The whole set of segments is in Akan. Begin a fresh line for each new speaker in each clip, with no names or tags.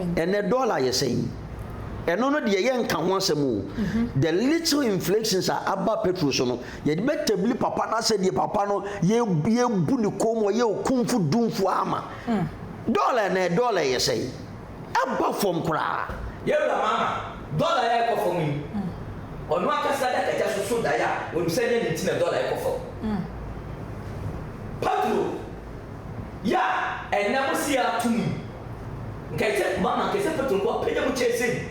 Ɛnnɛ dɔla yɛ sɛn? Ɛno no deɛ yɛnka ho asɛm o. The little inflations a aba petrol so no, yɛde bɛtabli papa no asɛ deɛ papa no yɛabu ne kɔn mu, ɔyɛ okumfo dumfo ara ma. Dɔla ɛnnɛ, dɔla yɛ sɛn? Aba fam koraa. Yɛn wura Mahama,
dɔla a ɛrekɔ fam yi, ɔno ankasa de akagya so so daeɛ a ɔnim sɛ ɛnyɛ ne nti na dɔla rekɔ fam. Petrol yi a ɛnnɛ mose yɛato mu yi, Nkaeɛsɛ kumaa maa nkaeɛsɛ petro nkoa pagya mu kyɛɛ sei.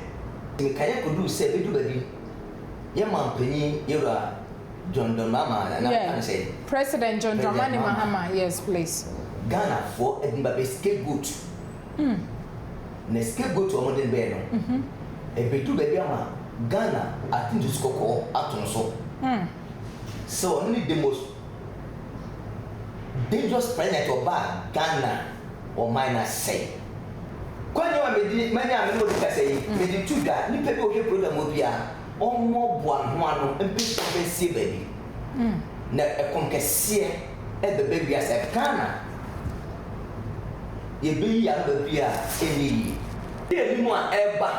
Nti nkaeɛ kɔduu sɛ bɛdu baabi no, yɛn manpanin yɛwura John Dramama anaa na bɛka no sɛn? President John Dramani
Mahama, yes please. Ghanafoɔ
de no ba bɛyɛ scapegoat. Na scapegoat a wɔde no baeɛ no, ɛbɛduru baabi ama Ghana ate nsusu kɔkɔɔ ato no so sɛ ɔno ne the most. dangerous president ɔbaa Ghana ɔman no asɛe kwan nyɛ wɔ a manya a mene wo rekasa yi mede to dwa nipa bi ɔhwɛ program hɔ bia ɔmmɔboa ne ho ano mpɛ sika ɔmfa nsie baabi na ɛkɔm kɛseɛ ɛbɛbɛ wiase a Ghana yɛbɛyi yɛ ano baabi a ɛnyɛ yie. Yɛnim a ɛreba.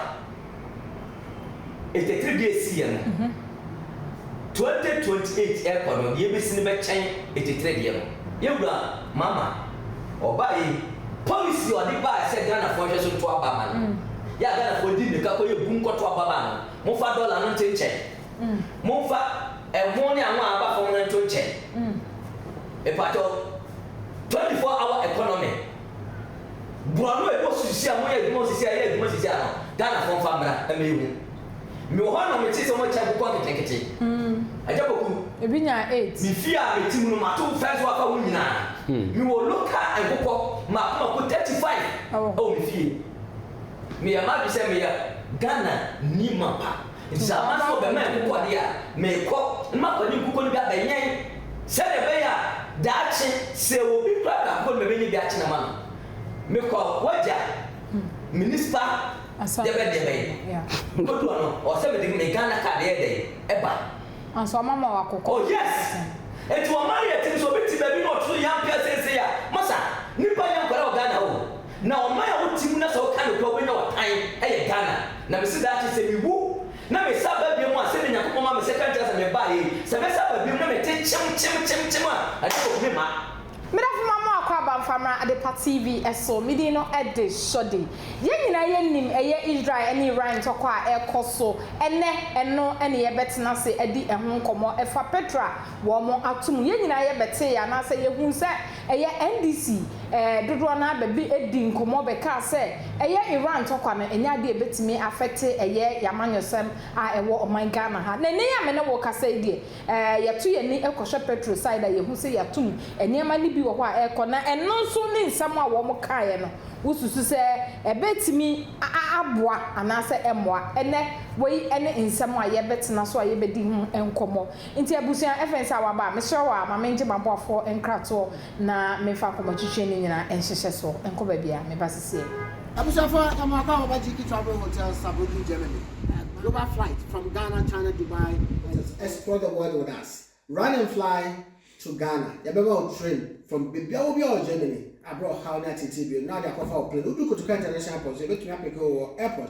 Ntetee bi a esi yɛ no, 2028 ɛkɔ no, deɛ ɛbɛsi no bɛkyɛn ntetee deɛ no. Yɛn Wura Mahama, ɔbaa yei, policy a ɔde baaɛ sɛ Ghanafoɔ nhwɛ so nto aba mma no, yɛ a Ghanafoɔ di mmirika kɔyɛ bum kɔto aba maa no, momfa dɔla no nte nkyɛn, momfa ɛho ne anwa a aba fam no nto nkyɛn, mepakyɛw, 24 hour economy. Boa no a ɛkɔ sisi a moyɛ adwuma sisi a ɛyɛ adwuma sisi a no Ghana foɔ nfa mmra na me hu Me wɔ hɔ a na me te sɛ wɔn akyɛ nkokɔ nketenkete Agya Kwaku Ebi nya
eight. Me fie a me te mu no
mato fence wɔ aka ho nyinaa Me wɔ local nkokɔ mako mako thirty five ɛwɔ me fie Me yɛ m'adwene sɛ me yɛ Ghana ni mapa. Enti sɛ amanfo rebɛma me kɔ de a, mekɔ, na mafa ne nkokɔ no bi abɛwɛn, sɛnea ɛbɛyɛ a daakye, sɛ obi kura biako no, mebenya bi akyene ama no. Mekɔ a, w'agya, me nipa deɛ bɛn deɛ bɛn. Mekodu hɔ no, ɔwɔ sɛ mede me Ghana card yɛ dɛn? Ba. Nanso wɔama
wo akokɔ. Oh, yes!
Enti wɔama no yɛ tim, sɛ obi te baabi na ɔto so yɛ ampea seesei a, masa, nipa nyɛ nkwadaa wɔ Ghana o. Na ɔman a wote mu na sɛ woka nokwɛ a wobɛnya w'atan yɛ Ghana. Na mese daakye sɛ mewu na mesan ba biom a, sɛdeɛ Nyankopɔn ma me second chance a mebaeɛ yi, sɛ mɛsan ba biom na mete kyem kyem kyem kyem a, ɛdeɛ wɔtumi ma. Medafo ma mo
akɔ aba mfa mmra Adepa TV so. Me din no de Shordy. Yɛn nyinaa yɛnim ɛyɛ Israel ne Iran ntɔkwa a ɛrekɔ so ɛnnɛ, ɛno ne yɛbɛtena ase adi ɛho nkɔmmɔ. Ɛfa Petra wɔn ato mu, yɛn nyinaa yɛbɛtee anaasɛ yɛhuu sɛ Ɛyɛ NDC eh, dodoɔ no ara bɛbe di nkɔmmɔ bɛkaa sɛ ɛyɛ Iran ntɔkwa no ɛnyɛ adeɛ a ɛbɛtumi afɛte ɛyɛ yɛn amanyɔsɛm a ɛwɔ ɔman Ghana ha. Na ɛnnɛ yi a me ne wo rekasa yi deɛ eh, yɛto yɛn ani kɔhwɛ Petro side a yɛhu sɛ yɛatom nneɛma no bi wɔ hɔ a ɛrekɔ na ɛno nso ne nsɛm a wɔn kaeɛ no wo susu sɛ ɛbɛtumi aboa anaasɛ ɛmmoa? Ɛnnɛ wei ne nsɛm a yɛbɛtena so a yɛbɛdi ho nkɔmmɔ. Nti abusua, ɛfei nso a waba a, mesrɛ wo a ma mengye m'aboafoɔ nkratoɔ na memfa akɔmɔtwetwe no nyina nhyehyɛ soɔ nkɔ baabi a meba sesie. Abusuafo yɛ
mo akɔ aba GE Travel Hotels Sabudu Germany global flight from Ghana China Dubai and explore the world with us run and fly to Ghana yɛbɛma wo train from bebia wɔ bia wɔ Germany abrɛ ɔhaw ne ateetee bio na wode akɔfa wo plane wodu Kotoka International Airport nso yɛbɛtumi apeke wo wɔ airport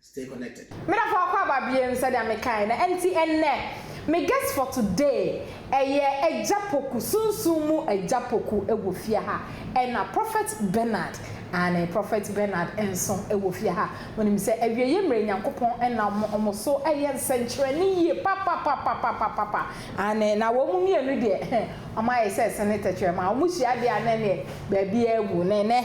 Stay connected. Me dɔfo akwaaba
bie no sɛdeɛ me kae no ɛnti ɛnnɛ me guest for today ɛyɛ agya poku sunsum mu agya poku ɛwɔ fie ha ɛna prophet Bernard aane prophet Bernard nso ɛwɔ fie ha wonim sɛ awieɛ mmerɛ Nyankopɔn nam wɔn so ɛyɛ nsɛnkyerɛnne yie papapapapapapa aane na wɔn mmienu deɛ wɔn ayɛ sɛ ɛsene tɛkyerɛma wɔn hyia deɛ a na ɛneɛ baabiara awu na ɛnɛ.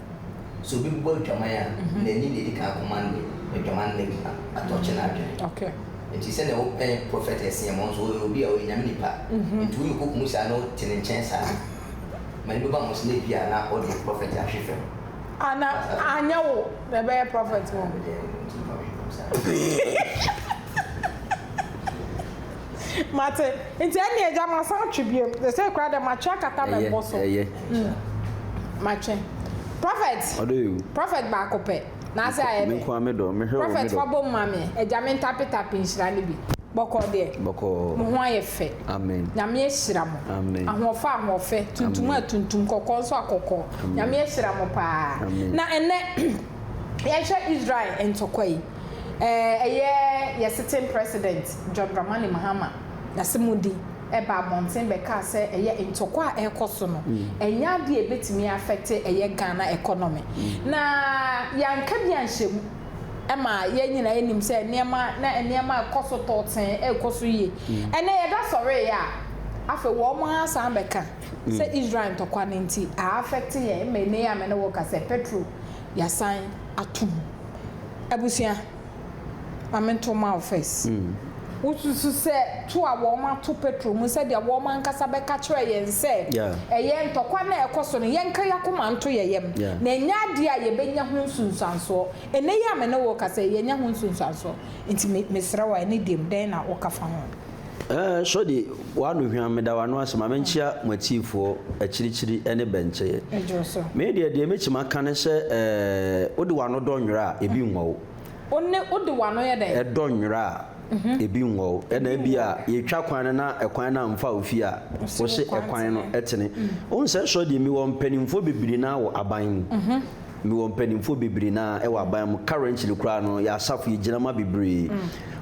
sɛ obi
bɔ adwaman a, n'ani na edi kan akɔ ma ne adwamanna bi ma atɔ kye n'adwene. Enti
sɛnea wopɛ
prɔfɛt Asiiɛm, ɔno nso ɔyɛ obi a ɔyɛ Nyame nipa, enti woyɛ okokum saa na wote ne nkyɛn saa a, m'ani bɛba ho sɛ na ebia na ɔde prɔfɛt ahwe fam. Ah, na
anyɛ wo na ɛbɛyɛ prɔfɛt hɔ? Mate. Nti ɛnneɛ Agya masan atwe biom. Seesei koraa deɛ matwe akata me bo so. Ɛyɛ, ɛyɛ. Mm. Matwe. Prophet. Ɔdɔ yɛ o. Prophet
baako pɛ.
Na ase ayɛ dɛ. Me nkoa me dɔ. Mehwɛ o, me dɔ. Prophet fa bom ma me. Agya me ntape tape nhyira no bi. Bɔkɔɔ deɛ. Bɔkɔɔ. Mo ho ayɛ fɛ. Amen. Nyame ahyira
mo.
Amen. Ahoɔfɛ
ahoɔfɛ.
Tuntum a tuntum. Kɔkɔɔ nso a kɔkɔɔ. Amen. Nyame ahyira mo paa. Amen. Na ɛnnɛ yɛhwɛ Israel ntɔkwa yi. Ɛyɛ yɛ sitting president John Dramani Mahama n'asemudi ɛbaa abɔnten bɛkaa sɛ ɛyɛ ntɔkwa a ɛrekɔ so no ɛnyɛ adeɛ a ɛbɛtumi afɛte ɛyɛ Ghana economy na yɛanka bi anhyɛ mu ɛma yɛn nyinaa yɛnim sɛ nneɛma na nneɛma ɛkɔ so tɔɔtee ɛrekɔ so yie ɛnɛ yɛda sɔreeɛ a afei wɔn ara san bɛka sɛ Israel ntɔkwa no nti a affect yɛn ɛma ɛnɛ yi a me ne wo rekasa yi petrol yasan ato mu abusua ma me nto ma wo first. Wo susu sɛ to a wɔn ato petro mu sɛdeɛ wɔn ankasa bɛka kyerɛ yɛn sɛ ɛyɛ ntɔkwa no a ɛkɔ so no yɛn nka yakoma nto yɛ yɛm na ɛnyɛ adeɛ a yɛbɛ nya ho nsunsuansoɔ ɛnɛ yi a me ne wo rekasa yi yɛnya ho nsunsuansoɔ nti me srɛ wo a ɛne deɛm dɛn na wo ka fa ho. Ɛɛ sɔde
w'ano hwa meda w'ano ase ma menkyea mo atiifoɔ akyirikyiri ne bɛnkyɛeɛ. Ɛdwo so. Me deɛ
deɛ mɛtumi
aka ne sɛ ɛɛ wode w'ano dɔ nwera a ebi nwɔ wo. Wo ne wode
w'ano yɛ dɛn? Ɛdɔ nwera a
ebi nwɔ wo. Ɛna ebi a yɛtwa kwan no na ɛkwan no amfa wo fie a wose ɛkwan no tene. Wohu sɛ sɔde mi wɔ mpaninfoɔ bebree no ara wɔ aban mu. Mewɔ mpaninfoɔ bebree na ɛwɔ aban mu currently koraa no yɛ asafo yɛ gyina ma bebree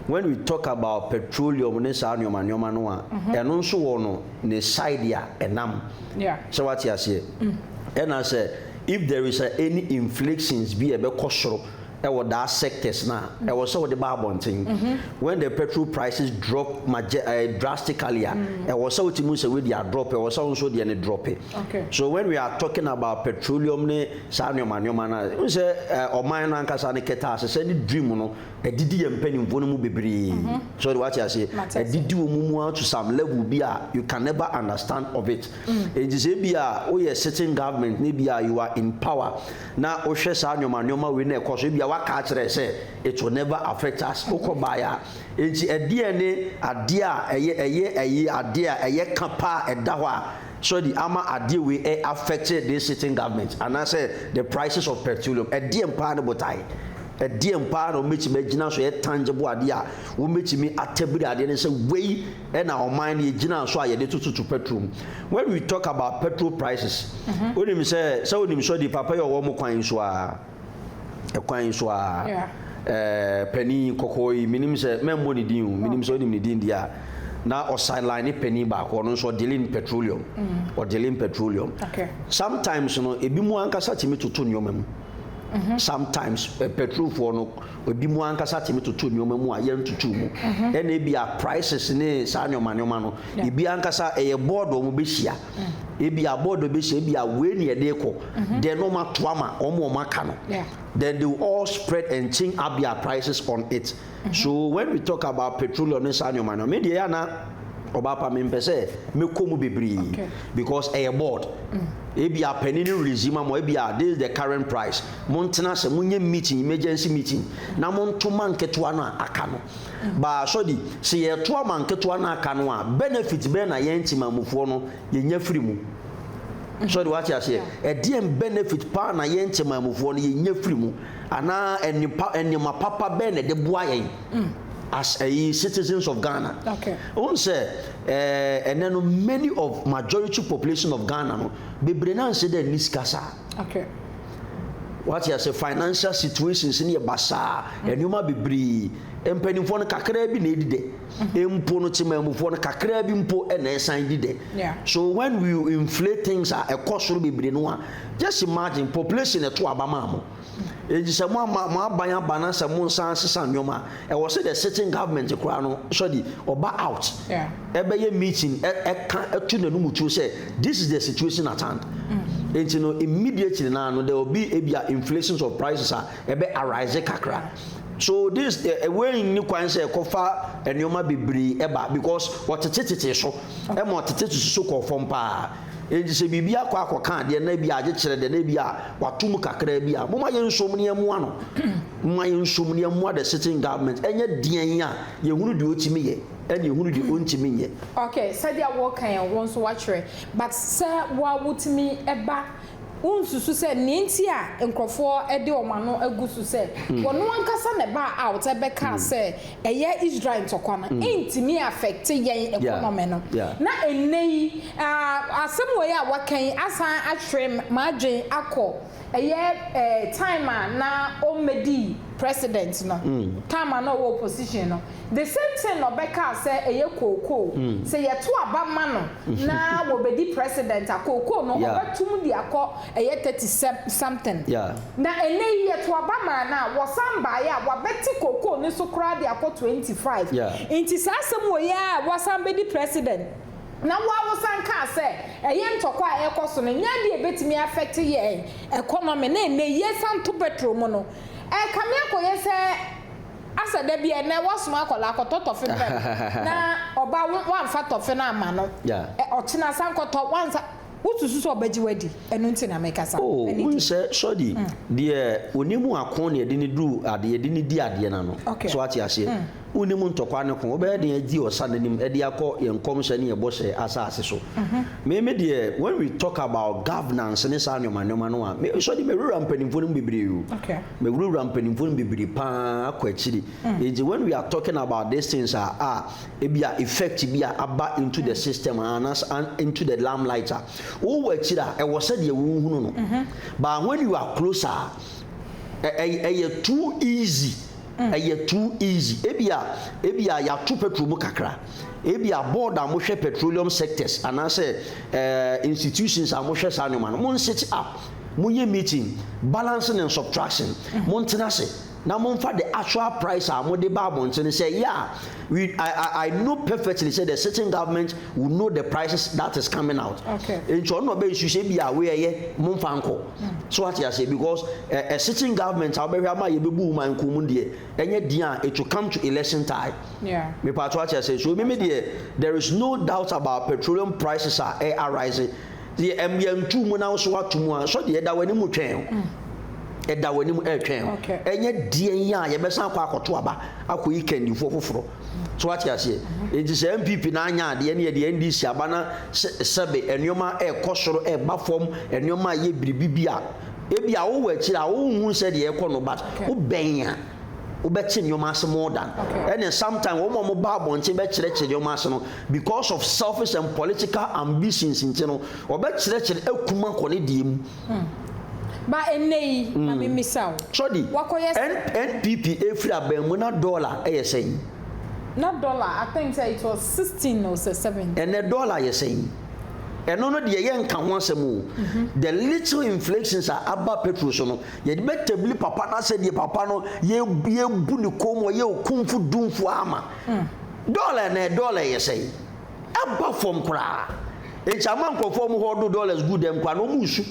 when we talk about petroleum ne saa nnoɔma nnoɔma no a ɛno nso wɔ no ne side a ɛnam sɛ wate aseɛ ɛna sɛ if there is a any inflictions bi a ɛbɛkɔ soro ɛwɔ that sectors no a ɛwɔ sɛ wode ba abɔnten when the petrol prices drop magye ɛɛ drastically a ɛwɔ sɛ wote mu sɛ wei deɛ adrɔp ɛwɔ sɛ wo nso deɛ no drɔpe. so when we
are talking
about petroleum ne saa nneɛma nneɛma no a sɛ ɔman no ankasa no kɛtɛ ahyehyɛ ne dream no ɛdidi yɛ mpanimfoɔ no mu bebree mhm. so de wate aseɛ ɛdidi wɔn mu ara to some level bi a you can never understand of it mm. nti sɛ bi a woyɛ sitting government ne bi a you are in power na wohwɛ saa nneɛma nneɛma wei na ɛkɔ so bi a waka akyerɛ sɛ it will never affect us mhm. wokɔ baeɛ a nti ɛdeɛ ne adeɛ a ɛyɛ ɛyɛ ɛyɛ adeɛ a ɛyɛ ka paa ɛda hɔ a Sɛ de ama adeɛ wei ɛ affecte this sitting government anaasɛ the prices of petroleum, ɛdeɛn paa ne botaeɛ? Ɛdeɛn paa na wɔbɛtumi agyina so ɛyɛ tangible adeɛ a wɔbɛtumi atabiri adeɛ no sɛ wei na ɔman no yɛgyinaa so a yɛde tototo petrol mu? When we talk about petrol prices, wonim sɛ, sɛ wonim Sɔdi, Papa yi ɔwɔ mo kwan yi so ara. kwan so ara. Ɛɛ panin kɔkɔɔ yi, menim sɛ mɛmmɔ ne din o, menim sɛ wonim ne din deɛ a. Na ɔsideline ne panin baako, ɔno nso ɔdeale in petroleum. Ɔdeale in petroleum. Sometimes
no,
ebinom ankasa tumi toto nneɛma mu. Sometimes petrolfoɔ no, ebinom ankasa tumi toto nneɛma mu a yɛntoto mu. Ɛna ebia prices ne saa nneɛma nneɛma no, ebi ankasa ɛyɛ board a wɔbɛhyia. ebi a board bi hyɛ ebi a wei na yɛde rekɔ mm-hmm. then wɔn ato ama wɔn wɔn aka no then they will all spread and change up their prices on it mm-hmm. so when we talk about petroleum ne saa nneɛma no me deɛ yɛ ana ɔbaapa mi mpɛ sɛ mekɔ mu bebree because ɛyɛ board mm. ebi a panyin no release ma mo ebi a this is the current price mo ntena sɛ mo nye meeting emergency meeting na mo ntoma nketewa no a aka no. Baa sɔdi, sɛ yɛtoa ma nketewa no aka no a benefit bɛn na yɛn nkyemamufoɔ no yɛnya firi mu? Sɔdi, wate aseɛ? Ɛdeɛn benefit paa na yɛn nkyemamufoɔ no yɛnya firi mu? Anaa ɛnnepa nneɛma papa bɛn na ɛde boa yɛn as ɛyi citizens of Ghana? Okay. Wohu sɛ ɛɛ ɛnɛ no many of majority population of Ghana no bebree no anhyɛ da nni
sika
saa. ahwɛ. Wate ase financial situations no yɛ basaa nneɛma bebree mpanimfoɔ no kakraa bi na ɛdi dɛ mm-hmm. mpo no temamufoɔ no kakraa bi mpo na ɛsan di dɛ so when we inflate things a ɛkɔ soro bebree no a just imagine population ɛto aba maa mo ɛnti mm-hmm. sɛ mo ama mo aban aba na sɛ mo nsan sesa nneɛma Ɛwɔ sɛ the sitting government koraa no sɔde ɔba out ɛbɛyɛ meeting ɛka ɛto n'anum tuo sɛ this is the situation at hand. Mm. Nti no immediately naa no there will be ebia inflations of prices a ɛbɛ arise kakra. So this eh, eh, wei nni kwan sɛ ɛkɔfa nneɛma bebree ɛba because ɔtetetetee so ɛma ɔtetetete so kɔɔ fam paa. Enti sɛ biribi akɔ akɔka adeɛ na ebi agye kyerɛ deɛ na ebi a wato mu kakraa bi a, moma yɛn nsom ne ɛmoa no. Moma yɛn nsom ne ɛmoa the sitting government ɛnyɛ deɛn a yɛhunu deɛ ɔtumi yɛ ɛne yɛhunu deɛ ɔntumi nyɛ. Okay, sɛdeɛ woka
yɛn wo nso woatwerɛ but sɛ wo a wotumi ba Wonsusu sɛ nea enti a nkurɔfoɔ de wɔn ano agu so sɛ wɔn ankasa na ɛbaa out bɛkaa sɛ ɛyɛ Israel ntɔkwa no ntumi affecte yɛn economy no, na ɛnnɛ yi asɛm wei a waka yi asan ahwere m'adwene akɔ ɛyɛ time a na ɔmmɛdi President no, time a na ɔwɔ opposition no. The same thing na ɔbɛkaa sɛ ɛyɛ kookoo sɛ yɛto aba ma no na wɔbɛdi president a kookoo no ɔbɛtom de akɔ ɛyɛ thirty something na ɛnnɛ yi yɛto aba maa no a wɔsan baeɛ a wabɛte kookoo no so koraa de akɔ twenty five nti saa asɛm wei ara a wasan bɛdi president na wo ara wosan kaa sɛ ɛyɛ ntɔkwa a ɛrekɔ so no nyɛ adeɛ a ɛbɛtumi affect yɛn economy na ɛnnɛ yi yɛsan to petrol mu no ɛrekame akɔyɛ sɛ Asa da bi a ɛnɛ wasoma akwadaa kɔtɔ tɔfe brɛ me na ɔba wo wamfa tɔfe no amma no ɛ ɔkyena san kɔtɔ wansa wosusu sɛ ɔbɛgye wo adi ɛno nti na mekasa oh wonhyɛ
sɔdi mm. deɛ ɔni mu ako na yɛde ne duru adeɛ yɛde ne di adeɛ no ano okay. so ate aseɛ mm. wonni mu ntɔkwa ne ko wobɛyɛ deɛ adi ɔsa n'anim ɛde akɔ yɛn nkɔmhyɛ ne yɛ bɔhyɛ asase so mm-hmm. me me deɛ when we talk about governance ne saa nneɛma nneɛma no a me sɔdi mɛwura mpanimfoɔ no mu bebree o okay. Mewurawura mpanyimfo no bebree paa kɔ akyiri. Nti when we are talking about these things a, a ebia effect bi a aba into the system a, anas into the limelight a, wowɔ akyiri a, ɛwɔ sɛdeɛ wohunu no. But when you are closer a, ɛ- ɛ- ɛyɛ too easy. Ɛyɛ too easy. Ebia, ebia yɛato petrol mu kakra. Ebia board a mohwɛ petroleum sectors anaasɛ eh, institutions a mohwɛ saa nneɛma no, monsete up. Monyɛ meeting, balancing and subtraction. Montena ase na momfa the actual price a mode ba abɔntene. Sɛ ɛyɛ a, we, I, I, I know perfectly sɛ the sitting government will know the prices that is coming out. Okay. Nti ɔno na ɔbɛnsu sɛ bi a wei ɛyɛ momfa nkɔ. So wate aseɛ because a, a sitting government a wobɛhwɛ ama yɛbɛbu ma nko mu deɛ ɛnyɛ deɛ a it will come to election time. Yeah. Mepatɔ ate aseɛ. So mimi deɛ there is no doubt about petroleum prices a ɛ arise. Deɛ ɛm yɛntu mu na wo so wato mu a, sɔ deɛ ɛda w'anim retwɛn o. Mm. Ɛda w'anim retwɛn o. Okay. Ɛnyɛ deɛ yi a yɛbɛsan akɔ akɔto aba akɔyi kandifoɔ foforɔ. Mm. So wate aseɛ? Mm-hmm. Enti sɛ NPP na anya adeɛ ne yɛde NDC aba na sɛbe nneɛma ɛrekɔ soro ɛreba fam nneɛma ɛyɛ biribi bi a ebi a wowɔ akyire a wonhu sɛ deɛ ɛrekɔ no but wobɛn a wobɛte nneɛma ase more than ɛne sometimes wɔn a wɔba abɔnten bɛkyerɛkyerɛ nneɛma ase no Because of selfish and political ambitions nti no, wɔbɛkyerɛkyerɛ akum akɔ ne deɛ mu. Hmm.
Ba ɛnnɛ yi, ma hmm. memmisa wo. Sɔdi,
NPP ɛfiri abɛn mu na dɔla ɛyɛ sɛn? Na dɔla,
I think sɛ it was sixteen or sɛ seventeen. Ɛnɛ dɔla yɛ sɛn?
Ɛno no deɛ yɛnka ho asɛm o. Mhm. The little inflations a aba petrol so no, yɛde bɛtabili papa no asɛ deɛ papa no yɛbu ne kɔn mu ɔyɛ okumfo dumfo ama. Hmm. Dɔla na dɔla ɛyɛ sɛn? Aba fam koraa. Nti ama nkurɔfoɔ wɔn hɔ do dollars gu dɛm koraa na wɔn resu.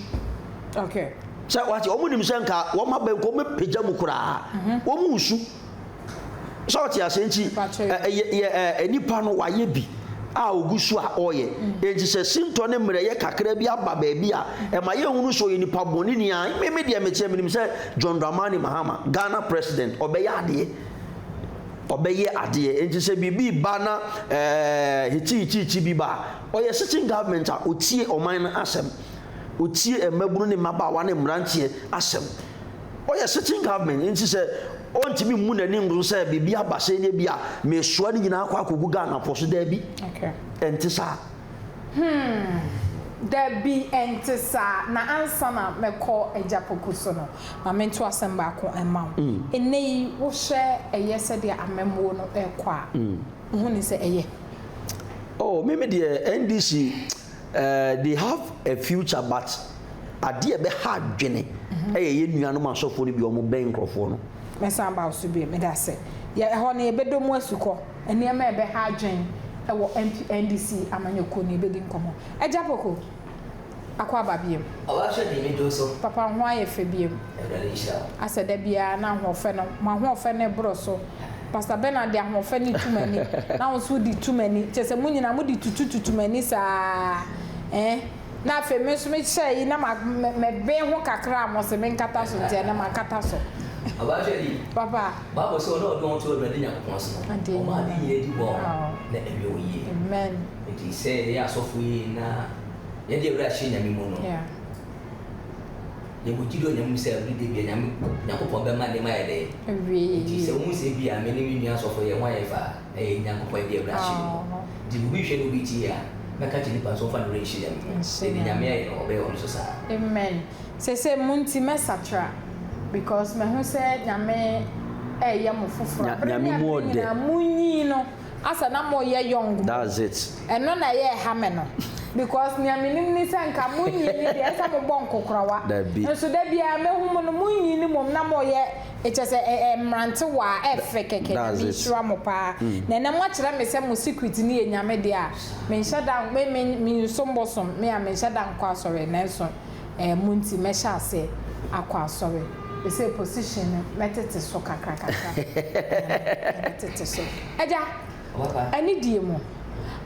Okay. Sɛ wate wɔn nim sɛ nka wɔn aba nka wɔn bɛpagya mu koraa. Mhm. Wɔn resu. Sɛ wɔte ase nti ɛ yɛ yɛ ɛ nipa no wayɛ bi a ogu so a ɔyɛ. Mm. Nti sɛ sintɔ ne mmerɛyɛ kakra bi aba baabi a mm. ɛma yɛn hunu sɛ ɔyɛ nipa bɔne ni a me me deɛ meteɛ menim sɛ John Dramani Mahama Ghana president ɔbɛyɛ adeɛ. Ɔbɛyɛ adeɛ enti sɛ biribi reba na hikyihikyiikyi bi ba a, ɔyɛ sitting government a ɔtie ɔman no asɛm, ɔtie mmabunu ne mmabaawa ne mmeranteɛ asɛm. Ɔyɛ sitting government enti sɛ ɔntumi mmu n'ani ngu sɛ biribi aba sei deɛ bi a mesoa ne nyinaa akɔ akɔgu Ghana po so, daabi, ɛnte saa. Hmm,
daabi ɛnte saa, na ansa na mɛkɔ Agyapoku so no, Ma mento asɛm baako mma wo. Nnɛyi wohwɛ ɛyɛ sɛdeɛ amammuo no rekɔ a, woho nim sɛ ɛyɛ? Oh,
me me deɛ NDC eh, they have a future but adeɛ a ɛbɛha adwene ɛyɛ yɛn nuanom asɔfoɔ no bi a wɔbɛn nkorɔfoɔ no. Mɛsan aba wo so bio,
meda ase. Yɛ ɛhɔ no yɛbɛdɔ mu asukɔ. Nneɛma a ɛbɛha adwene wɔ NDC amanyɔkuo no yɛbɛdi nkɔmmɔ. Agya Poku. akɔ aba biom. Ɔba hwɛ deɛ me do
so. Papa ho ayɛ fɛ
biom. Awurade nhyira wo. Asɛ da biara na ahoɔfɛ no mo ahoɔfɛ no boro so pastor Bernard de ahoɔfɛ no tu m'ani na wo nso wo de tu m'ani kyɛ sɛ mo nyinaa mo de tutu tutu m'ani saa eh na afei me nso me hyɛ yi na ma me ben ho kakra a mo se me nkata so nti ɛnɛ ma kata so. Ɔba hwɛ bi.
Papa. Bible se
wɔn a wɔde
wɔn to Awurade Nyankopɔn so no wɔn ade nyina di bɔɔ na ɛyɛ wɔn yie. Amen. Enti
sɛ yɛyɛ
asɔfo yi na yɛde awura hyɛ Nyame mu no, yɛwɔ gyidi wɔ Nyame mu sɛ ɔde da bia Nyame, Nyankopɔn bɛma nneɛma ayɛ dɛn? Awie. Enti sɛ wohu
sɛ ebia
me ne me nua asɔfo yɛn ho ayɛ fɛ a, ɛyɛ Nyankopɔn yɛde awura hyɛ mu. Enti obi hwɛ na obi tie a, mɛka akyerɛ nipa no sɛ ɔmfa n'awura nhyɛ Nyame mu. Sɛ nea Nyame ayɛ no, ɔbɛyɛ wɔ me so saa. Amen.
Sesei mo nti mɛsakra because mahu sɛ Nyame reyɛ mo foforɔ. Bere ne abere nyinaa
munyin no.
Asa na mo yɛ young mo. That's it. Ɛno
na ɛyɛ ɛha
me no because nea me nim ne sɛ nka mo nyiini deɛ ɛsɛ mo bɔ nkokorawa nso da biara me hu mo no mo nyiini mom na mo yɛ kyɛ sɛ ɛ ɛ mmerantewaa ɛ fɛ kɛkɛ nyame nhyira mo paa na ɛnɛ mo akyerɛ me sɛ mo secret no yɛ nyame deɛ a me nhyɛ da me me me nsom bosom me a me nhyɛ da nkɔ asɔre nanso eh, mo nti mɛhyɛ aseɛ akɔ asɔre. Ɛsɛ position no mɛtete so kakra kakra eh, mɛtete so. Agya, ɛne die mu.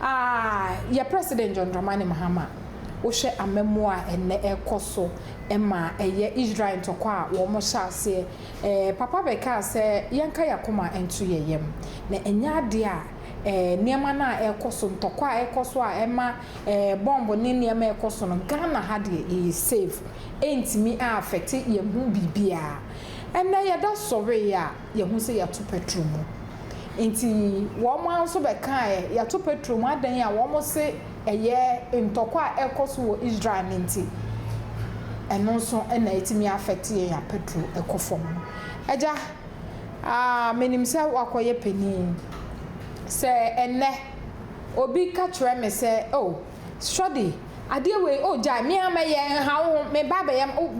Ah, yɛ President John Dramani Mahama, wohwɛ amammuo a ɛnnɛ ɛrekɔ so ma ɛyɛ Israel ntɔkwa a wɔhyɛ aseɛ eh, Papa bɛkaa sɛ yɛnka yɛn akoma nto yɛn yam. Na ɛnyɛ adeɛ a eh, nneɛma no a ɛrekɔ so, ntɔkwa a ɛrekɔ so a ɛma Ɛɛ bɔmb ne nneɛma a ɛkɔ so no, Ghana ha deɛ yɛyɛ safe. Ɛntumi aafɛte yɛn ho biribiara. Ɛnnɛ yɛda sɔree a, yɛhu sɛ yɛato pɛtro mu. Nti wɔn ara nso bɛkaaɛ, yɛato pɛtro mu adɛn a, wɔn se ɛyɛ ntɔkwa a ɛrekɔ so wɔ Israel no nti. Ɛno nso na ɛtumi aafɛte yɛn a pɛtro kɔ fam no. Agya, aa menim sɛ woakɔyɛ panin. Sɛ ɛnnɛ. obi ka kyerɛ me sɛ, Oh, Shirley, adeɛ wei, oh, gyae, me ara mɛyɛ, nha wo ho, meba abɛyɛ, oh,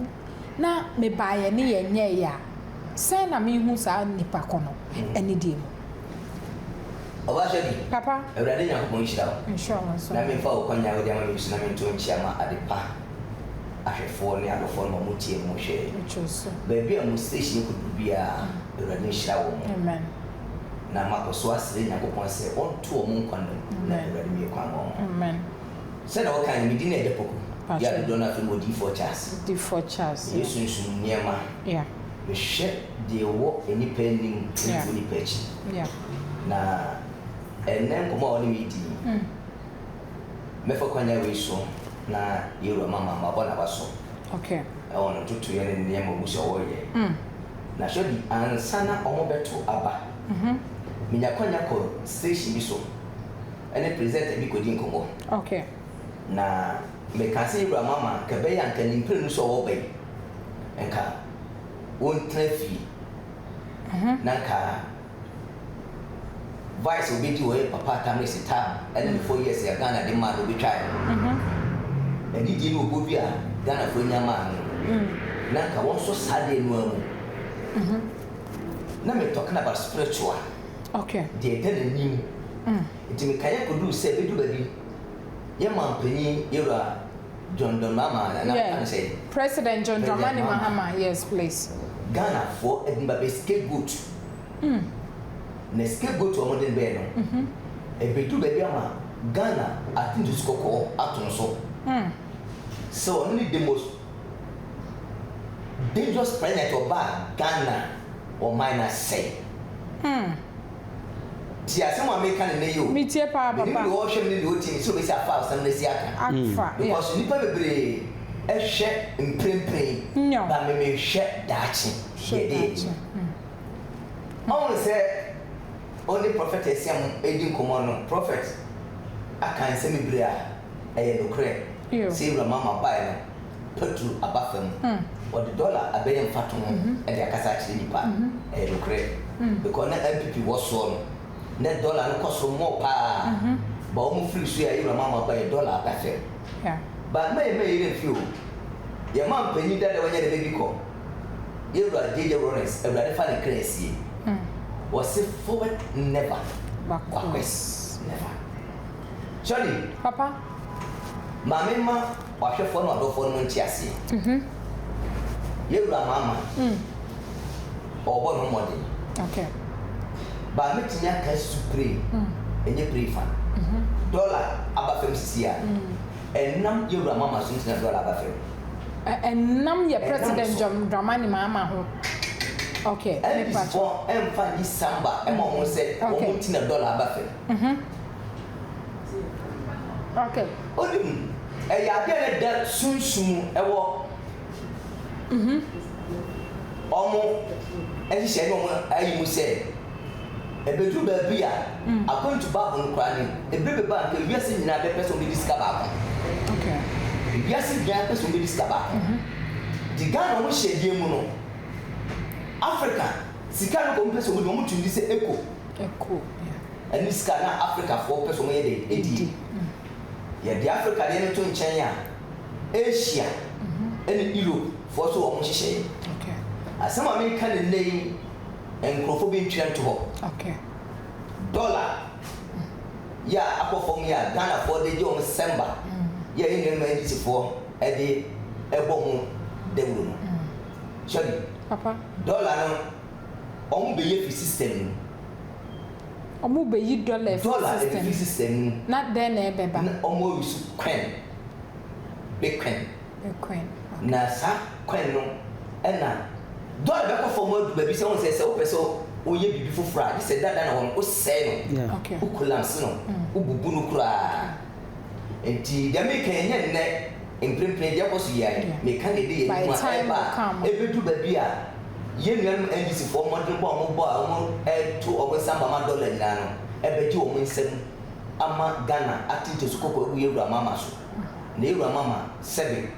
na mebaeɛ ne yɛnyɛeɛ a, sɛn na mehu saa nipa ko no anidie mu?
Ɔbaa Shirley, Papa.
Awurade Nyankopɔn nhyira
wo. Nhyira wo nso. Na memfa
wo kwannya a
wode ama me yi so na mento nkyea ma adepa ahwɛfoɔ ne adɔfoɔ no a wɔtiee mo hwɛɛ baabi a
mo station
no kɔduru biara, Awurade nhyira wɔn. Amen.
na makɔ
so asrɛ Nyankopɔn sɛ ɔnto wɔn nkwa nna mu, na Awurade mue kwan maa wɔn.
Sɛnea wɔkae
no, me din na ɛda Poku yi a dodoɔ no ara frɛ me Odiyifoɔ Charles. Meyɛ sunsum nneɛma.
Mehwɛ
deɛ ɛwɔ nnipa anim ne deɛ ɛwɔ nnipa akyi. Na ɛnnɛ nkɔmmɔ a wɔne me redi yi, Mɛfa kwan a wei so na Yehowa ma ma mabɔ n'abaso
wɔ ne ntotoeɛ
ne ne nneɛma a ɔhu sɛ ɔreyɛ. Na hwɛ bi, ansa na wɔbɛto aba, menya kwanya kɔ station bi so ne presenter bi kɔdi nkɔmmɔ.
Na
mekaa sɛ, Yehowa ma ma anka ɛbɛyɛ a anka ne mprenu so a ɔreba yi, anka ɔntena fie na anka. Vice obedi hɔ yɛ papa Tamale Sitaa ɛne no four years a Ghana de maa no obetwae no anigye ne ɔbɔ bi a Ghanafoɔ nya maa me no na nka wɔn nso saa deɛ no ara mu na me talking about spiritual
deɛ ɛda n'anim
nti mekaeɛ kɔduru sɛ bɛdu baabi yɛ manpanin yɛwura John Dramama Nana yeah. Kan sɛ. President John Dramani
Mahama yes please. Ghana foɔ
ɛde ba bɛ scapegoat. Mm. Na scapegoat wɔn de bɛɛ no. Mm -hmm. Ɛbɛdu baabi ama Ghana atintusi kɔkɔɔ ato no so. Mm. Sɛ wɔn ne the most dangerous president ɔbaa Ghana wɔn man na sɛe. Mm. Tie asɛm a mereka no nnɛ yi o. Me tie paa papa. Menim deɛ
ɔrehwɛ me ne deɛ
ɔretie
me
sɛ obesi afa asɛm no asi aka. Afa, yeah. Because nnipa bebree hwɛ mprempren, Nyaw. but me mehwɛ daakye. Hwɛ Yɛ dee. daakye. Hmm. Ɔhunu sɛ ɔne Prɔfɛt Asiam redi nkɔmmɔ no, Prɔfɛt aka nsɛm bebree a ɛyɛ nokorɛ. Ew. Sɛ Awuram Ama baeɛ no, patu aba fa mu. Wɔde dɔla a abɛyɛ mfatoho de akasa akyerɛ nnipa. Ɛyɛ nokorɛ. Because na NPP wɔ soɔ no, na dɔla no kɔ soro more paa. But wɔn firi so a Ewura Mahama baeɛ, dɔla aba fam. But mɛyɛ mɛyɛ yɛn mfi o. Yɛn manpanin dada wanya ne baby kɔ. Yewura JJ Rawlings, Awurade fa ne kra nsie. Wɔse forward never, backwards never. Charlie, Papa.
Maame
mma. W'ahwɛfoɔ ne w'adɔfoɔ no mu nteaseɛ yɛ wura maa ma ɔɔbɔ ne ho mmɔden
baa
mɛtumi aka su prey ɛnyɛ prey fa dɔla aba fam sisi a ɛnam yɛ wura maa ma so nti na dɔla aba fam ɛnam
yɛ president John Dramani Mahama ho okay ɛne bisibɔ
ɛmfa yi samba ɛma ɔmo sɛ ɔmo nti na dɔla aba fam.
Ɔde mu.
Ɛyɛ adeɛ a ne da sunsum wɔ wɔn nhyehyɛe ne wɔn ayi mu sɛ ɛbɛduru baabi a, according to Bible no koraa no, ɛberɛ bɛba a anka wiase nyinaa bɛpɛ sɛ wɔbɛdi sika baako.
Wiase
nyinaa pɛ sɛ wɔbɛdi sika baako. Nti Ghana wɔn hyɛdeɛ mu no, Africa sika no nka wɔpɛ sɛ wɔdi, wɔtumi di sɛ ɛkɔ. ɛkɔ bia. Ɛno ne sika na Afrikafoɔ pɛ sɛ wɔyɛ dɛn? Ɛdie. Yɛde Afrika deɛ no to nkyɛn a, Asia ne Europe foɔ so wɔn nhyehyɛeɛ.
Asɛm a mereka
no nnɛ yi, nkorɔfoɔ bi ntwerɛ nto hɔ.
Dollar
yɛ a akɔ fam yi a Ghanafoɔ de gye wɔn cemba yɛ a yɛn nuanom NDC foɔ de bɔ ho dawuro no, hwɛ bi.
Dollar no.
wɔbɛyi afiri system no
mu. Wɔbɛyi dɔla afiri system. Dɔla ɛbɛfiri system no
mu. Na dɛn na ɛbɛba?
Na wɔresu coin,
Bitcoin. Bitcoin, okay. Na saa coin no ɛna dɔla bɛkɔ fam adu baabi sɛ wɔn sɛ sɛ wopɛ sɛ woyɛ biribi foforɔ a gye sɛ dada na wɔn wosɛe no, wokɔlanse no, wobubu no koraa. Ntsi dza mereka yi nnyɛ ndɛ mprempren dze ɔkɔ so yie ae. Mereka dza ebɛyɛ no mu a ɛreba a ebedu baabi a yɛn nuanom NGCfoɔ mmɔdenbɔ a wɔbɔ a wɔreto wɔn nsa ama ma dɔla nyinaa no bɛgye wɔn nsam ama Ghana ate ntosu kɔkɔɔ agu yɛn wura Mahama so. Na yɛn wura Mahama, sɛbe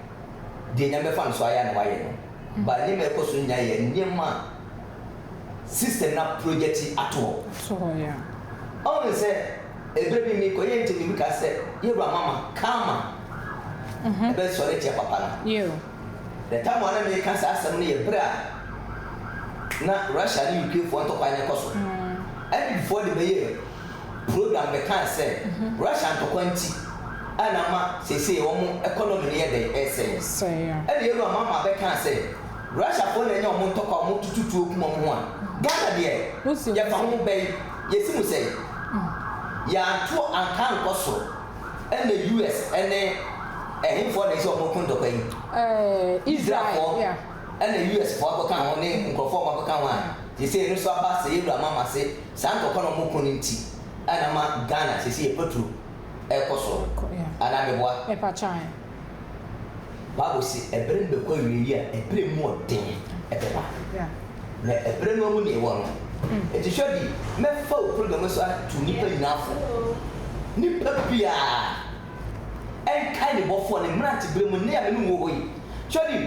deɛ Nyame bɛfa no so ayɛ a na wayɛ no. But nneɛma a ɛkɔ so nyinaa yɛ nneɛma a system no aprojɛte ato hɔ. Ɔhunu
sɛ.
Eber bi merekɔyɛ ntsi na bi kaa sɛ, Yewura Mama, karma bɛsɔr etsia papa no. The
time a
nna mereka saa asɛm no yɛ ber a na Russia nye Ukrainefoɔ ntɔkwa no rekɔ so. Adwidfoɔ de bɛyɛɛ program bɛkaa sɛ Russia ntɔkwa ntsi a na ama seesei wɔn economy no yɛ dɛn? Resɛe. Ɛna Yewura
Mama bɛkaa
sɛ, Russiafoɔ na anya wɔn ntɔkwa a wɔtutu tuo kum wɔn ho a, Ghana deɛ, yɛfa ho bɛn? Yɛsi mu sɛ yɛanto anka ankɔ soro ɛna US ɛne ɛhefoɔ na ɛsɛ ɔmo ko ntɔkwa yi? Israel foɔ
ɛna US foɔ
akɔka ho ne nkorɔfoɔ ɔmo akɔka ho a seisei ɛno nso aba sɛ yɛwura mo ama se saa ntɔkwa na ɔmo ko no nti ɛna ama Ghana seisei ɛpaturo ɛkɔ soro anaa meboa? Bible se, Ɛberɛ no bɛkɔ awieeɛ a ɛberɛ mu ɔden bɛba, na
ɛberɛ no
amu na ɛwɔ no. Enti hwɛ bi, mɛfa wo program yi so ato nnipa nyinaa fo. Nnipa biara nkae ne bɔfoɔ ne mmeranteberɛ mu nne a me ne wo wɔ hɔ yi. Hwɛ bi,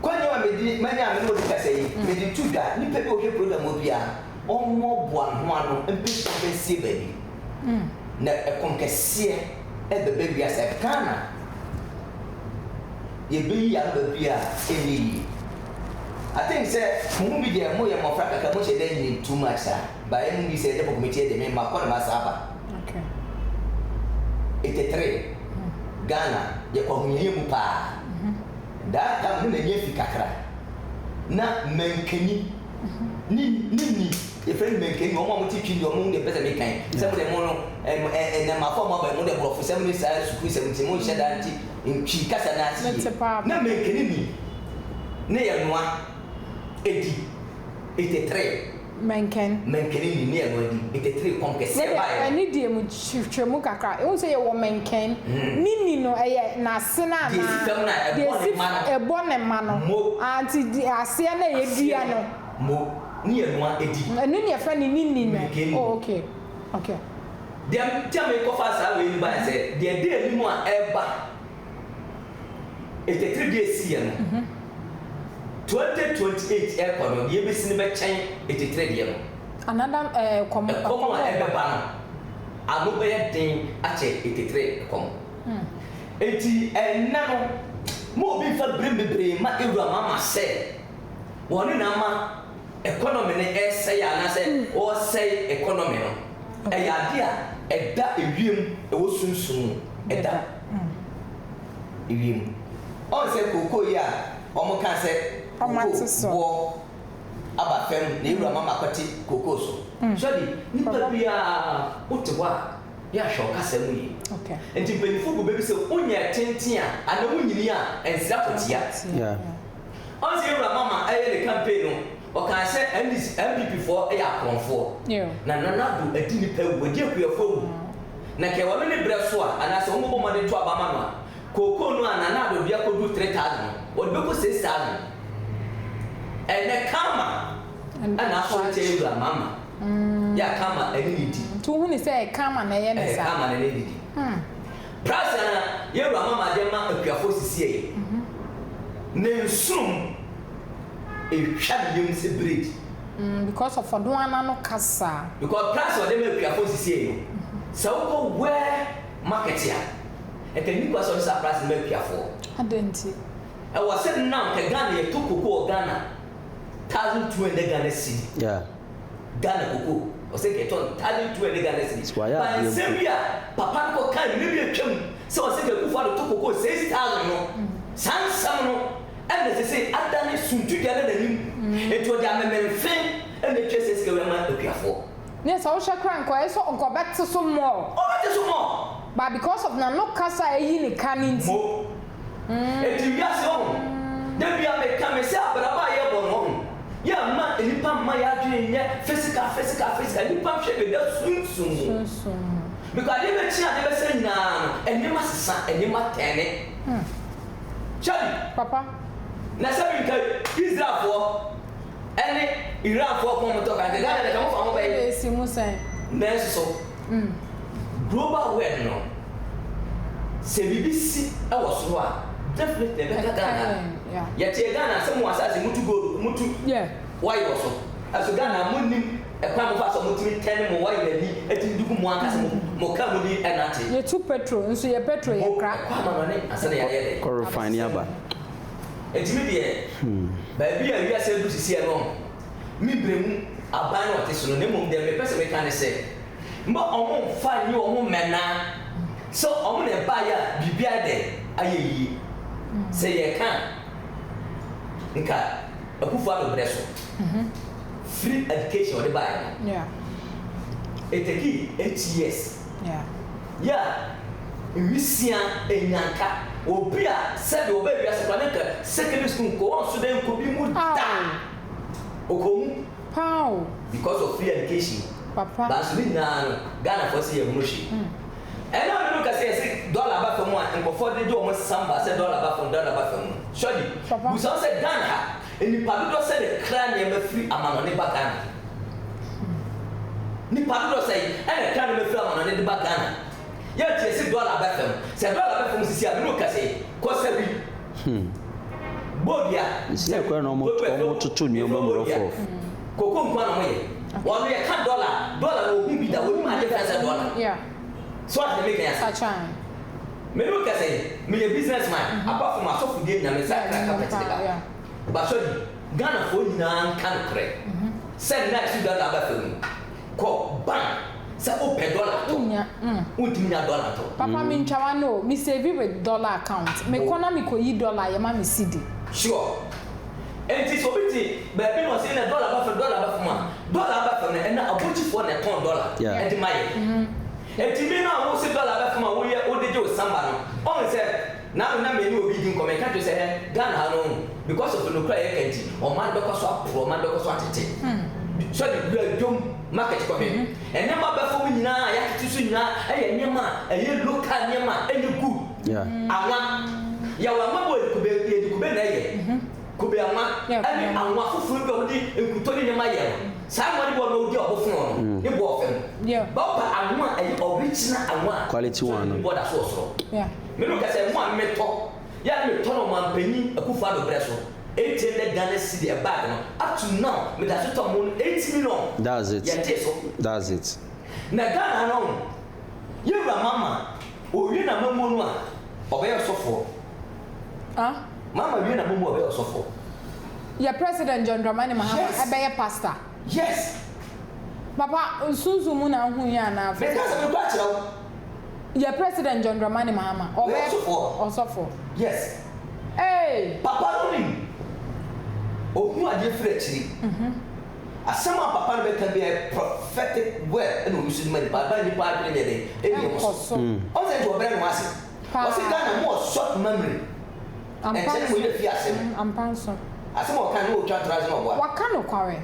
kwannya a mede manya a me ne wo de kasa yi, mede to dwa, nnipa bi a wɔhwɛ program hɔ biara, wɔmmɔboa ho ano mpɛ sɛ wɔbɛsie baabi, na ɛkɔm kɛseɛ. ɛbɛba bia sɛ Ghana yɛbɛyi aba bia ɛnyɛ yie I think sɛ mo mu bi deɛ mo yɛ mmɔfra kakra mo hyɛ da nnim too much saa but yɛ mo bi sɛ ɛdɛ bɔkɔmi tiɛ deɛ me ma kɔ ne ma saa ba
etetere
Ghana yɛ kɔ ahoyɛyɛ mu paa that time no na ɛnyɛ fi kakra na mankani ne ne ni yɛfrɛ no mɛnkae ni wɔn a wɔte twin deɛ wɔn deɛ mpɛ sɛ meka yi sɛ mo deɛ mo no ɛm ɛ ɛnɛmafo a mo aba yi mo deɛ borɔfo sɛm ne saa sukuu sɛm nti mo nhyɛ da nti ntwi kasa no ase yie na mɛnkani ni ne yɛ noa ɛdi ete three mɛnkɛn mɛnkani ni ne yɛ noa ɛdi ete three kɔm kɛseɛ baeɛ no.
Hwehwɛ mu kakra. Ehu sɛ yɛwɔ mɛnkɛn. Ne ni no, ɛyɛ n'ase no anaa? Deɛ ɛsi fam no a. Ɛbɔ ne mma no. Mo. Ah, nti di, aseɛ no a yɛdua no. Mo. Ne yɛ noa di. Ɛno
ne yɛfrɛ
no ne ni
no. Mɛnkɛn
ni. Oh,
okay. Okay.
Deɛ
nti a merekɔfa saa wei no baeɛ sɛ, deɛ ɛda anim a ɛreba. Ntetee bi a ɛsiiɛ no, 2028 ɛrekɔ no, deɛ ɛbɛsi no bɛkyɛn ntetee deɛ no. Anadam ɛɛ
ɛkɔm. Ɛkɔm a
ɛrebɛba no, ano bɛyɛ den akyɛ ntetee ɛkɔm. Enti ɛnnɛ no, ma obi mfa berem bebree mma awuram ama sɛ wɔne na ama economy no ɛresɛe anaasɛ wɔresɛe economy no. Ɛyɛ adeɛ a ɛda ewiem, ɛwɔ sunsum mu, ɛda. mm wiem. Ɔn sɛ kookoo yi a ɔmo kaa sɛ kookoo boɔ aba fɛm na ewura mama kɔte kookoo so. Sɔdi, nipa biaa wo te hɔ a yɛ a hwɛ wo kasa mu yie. Nti mpanyinfo
gu bɛ bi
sɛ wo nyɛ tenten a anaa wo nyini a ɛnsra fɔtia.
Ɔn sɛ
ewura mama ɛyɛ ne campaign no. Ɔkaa sɛ NDC, NPP foɔ yɛ akorɔmfoɔ, na Nana Addo adi nnipa awu, wadi akuafoɔ awu. Na kɛ wɔn ani berɛ so a, anaasɛ wɔn bɛbɔ mmɔden to aba ma no a, kookoo no a Nana Addo de akɔduru 3000 no, wɔde bɛkɔ 6000. Ɛnnɛ Karma na asɔre tia yɛn wura Mahama. Yɛ a Karma ne ne di. Nti wohu no sɛ Karma
na ɛyɛ no saa? Karma ne ne di.
Price a yɛn wura Mahama de ma akuafoɔ sisiɛ yi, ne nsono mu. etwa ne yam sɛ biredi. Mm, because of
ɔdon ana no kasa. Because price a ɔde ma
akuafo nsisiei no, sɛ wokɔ Ware market a, ɛka nni kwa sɛ ɔde saa price no ma akuafoɔ. Adɛn nti?
Ɛwɔ sɛ
now, ka Ghana yɛtɔ cocoa wɔ Ghana thousand two hundred Ghana cedi. Yeah.
Ghana
cocoa ɔsɛ nka ɛtɔ ntade du ɛne Ghana cedis ba nsɛm bi a papa no kɔ kae mmere bi a atwam sɛ ɔsɛ nka Akufo Addo to cocoa six thousand no saa nsɛm no ɛna sese adane suntudua na nanim nti ɔde amemenfe ɛna ɛtua saa sika wei ama akuafoɔ. Ne sɛ wohwɛ
koraa nka ɔyɛ sɛ nka ɔbɛte so more. Ɔbɛte so more. But because of nano kasa a ɛyi ne ka no nti. Mo.
Enti wiase ɔho da bia me ka me sɛ abrabɔ a yɛ bɔ no ɔho yɛ mma nnipa mma yɛ adwene nyɛ physical physical physical nnipa hwɛ de da sunsum mu because adeɛ bɛkyi adeɛ bɛsɛ nyinaa no nneɛma sesa nneɛma tɛne hwɛ bi papa
na sɛ bi
nka Israel foɔ ɛne Iran foɔ kɔn mo tɔ kan de na yɛ de ka mo fa mo bɛyɛ nanso
so
Global word no sɛ biribi si wɔ soro a definitely ɛbɛka Ghana. Yɛteɛ Ghana sɛ mo asase motu gold motu oil wɔ so. Ɛso Ghana monnim kwan mofa so a motumi tɛn mo oil ani atumi de gu mo ankasa mo car mu de nante. Yɛtu petrol nso
yɛ petrol yɛ kra. Mo ɛkɔ amanɔne ansa na
yɛayɛ dɛ. Kɔ refine aba.
Nti
me deɛ baabi a wiase adu sisi ɛno. me berɛ mu aban na ɔte so no, na mmom deɛ mepɛ sɛ meka ne sɛ, mma wɔmmfa nnye wɔn ho mmɛnna sɛ wɔn na ɛbaeɛ a biribiara dɛn, ayɛ yie. Sɛ yɛreka a, nka Akufo-Addo berɛ so, free education a wɔde baeɛ no, it takee eight years, yɛ a nwisiaa, nnyanka, obi a sɛdeɛ ɔbaa wiase koraa na nka secondary school nkɔ, wɔnso dɛn nkɔ bi mu da. Ɔkɔ mu. Paa o.
Because of free
education. Papa. Nanso ne
nyinaa no,
Ghanafoɔ se yɛnhunu hwee. Ɛnnɛ a binom kɛse yɛse dollar aba fam a nkurɔfoɔ de de wɔn nsesam ba sɛ dollar aba fam, dollar aba fam no, Shirley, Papa. bisa wo sɛ Ghana ha, nnipa dodoɔ sɛn na ɛkra nneɛma firi amanɔne ba Ghana? Nnipa dodoɔ sɛn na ɛkra nneɛma firi amanɔne de ba Ghana? Yɛ tie se dɔla bɛ fam. Sɛ dɔla bɛ fam sisi a, me ne wo kɛse kɔ sawi. Bɔ dua, sawi,
bɔ dua, sawi, bɔ dua, koko nko ara na
ɔmo yɛ. Ɔno yɛ ka dɔla, dɔla na ohu bi da, onim ade fɛn sɛ dɔla. So ate deɛ meka yi ase? Me ne wo kɛse, me yɛ business man, apart from asɔfodie nyina me nsa ka carpet de ba. Ba sɔre, Ghanafoɔ nyinaa nka nokorɛ sɛ nnɛ a yɛse dɔla bɛ fam yi, Kɔ bank sɛ wo pɛ dollar tɔ. Nnya mm. Wo ntumi nya dollar tɔ. Papa me ntwa wa no o,
me save with dollar account, me kɔ na me kɔ yi dollar yɛ ma me cedi. Sure.
Ɛnti sɛ obi te baabi na ɔse yɛn na dollar ba fam dollar ba fam a, dollar aba fam no ɛna abokyifoɔ na ɛtɔn dollar ɛde ma yɛn. Ɛnti me na wo se dollar ba fam a wo yɛ wo de gye wo samba no, ɔn sɛ. Na me na me ne obi di nkɔmmɔ yɛka kyerɛ sɛ ɛɛ Ghana ha no because of nokorɛ a yɛka nti ɔman bɛkɔ so aporɔ ɔman bɛkɔ so atete sɛ de wura dwom market kɔhwɛ nneɛma aba fam nyinaa a yɛatete so nyinaa ɛyɛ nneɛma a ɛyɛ local nneɛma a ɛnyɛ good anwa yɛwɔ anwa bɔ yɛde kube yɛde kube na ɛyɛ kube anwa ɛne anwa foforɔ bi a wɔde nkutɔ ne nneɛma yɛ no saa anwa ne bɔ na ɔdi ɔbo fono no ne bɔ ɔfam bɛba anwa a ɛyɛ original anwa a quality one no bɔ da
so wɔ soro.
Me no kasa
mu a no
me tɔ yɛ a no me tɔ no ɔmanpanyin Akufo Addo brɛ so eight hundred Ghana cedi a bag no up to now me da so tɔ mo no eight million That's it yɛ te so.
that's
it.
Na Ghana ha no
yɛ wura Mama owie na mamuo no a ɔbɛyɛ ɔsɔfoɔ ah.
Mama wie na
mamuo a ɔbɛyɛ ɔsɔfoɔ. Yɛ
president John Dramani Mahama Yes. ɛbɛyɛ pastor. Yes
papa
nsunsun mu na ahu yɛ anaa afoforo. Meka sɛ me kura kyerɛ wo.
Yɛ
president John Dramani Mahama ɔbɛ ɔsɔfo.
Yes. Eeii.
Papa no nim.
Ohu adeɛ firi akyire. Asɛm a papa no bɛka biara yɛ prophetic word ɛna ɔyi so de ma nipa ama nipa adwene nyɛ dɛn? Ɛnyɛ wɔn so. Ɔn sɛ
nti ɔbrɛ ne
ho ase. Ɔse Ghana mo wɔ soft memory. Ampa nso.
Ɛnkyɛree wei na fii asɛm.
Mm, ampa nso.
Asɛm a ɔkae no,
Ɔretwa ntorɔ ase na ɔboa. Waka nokware.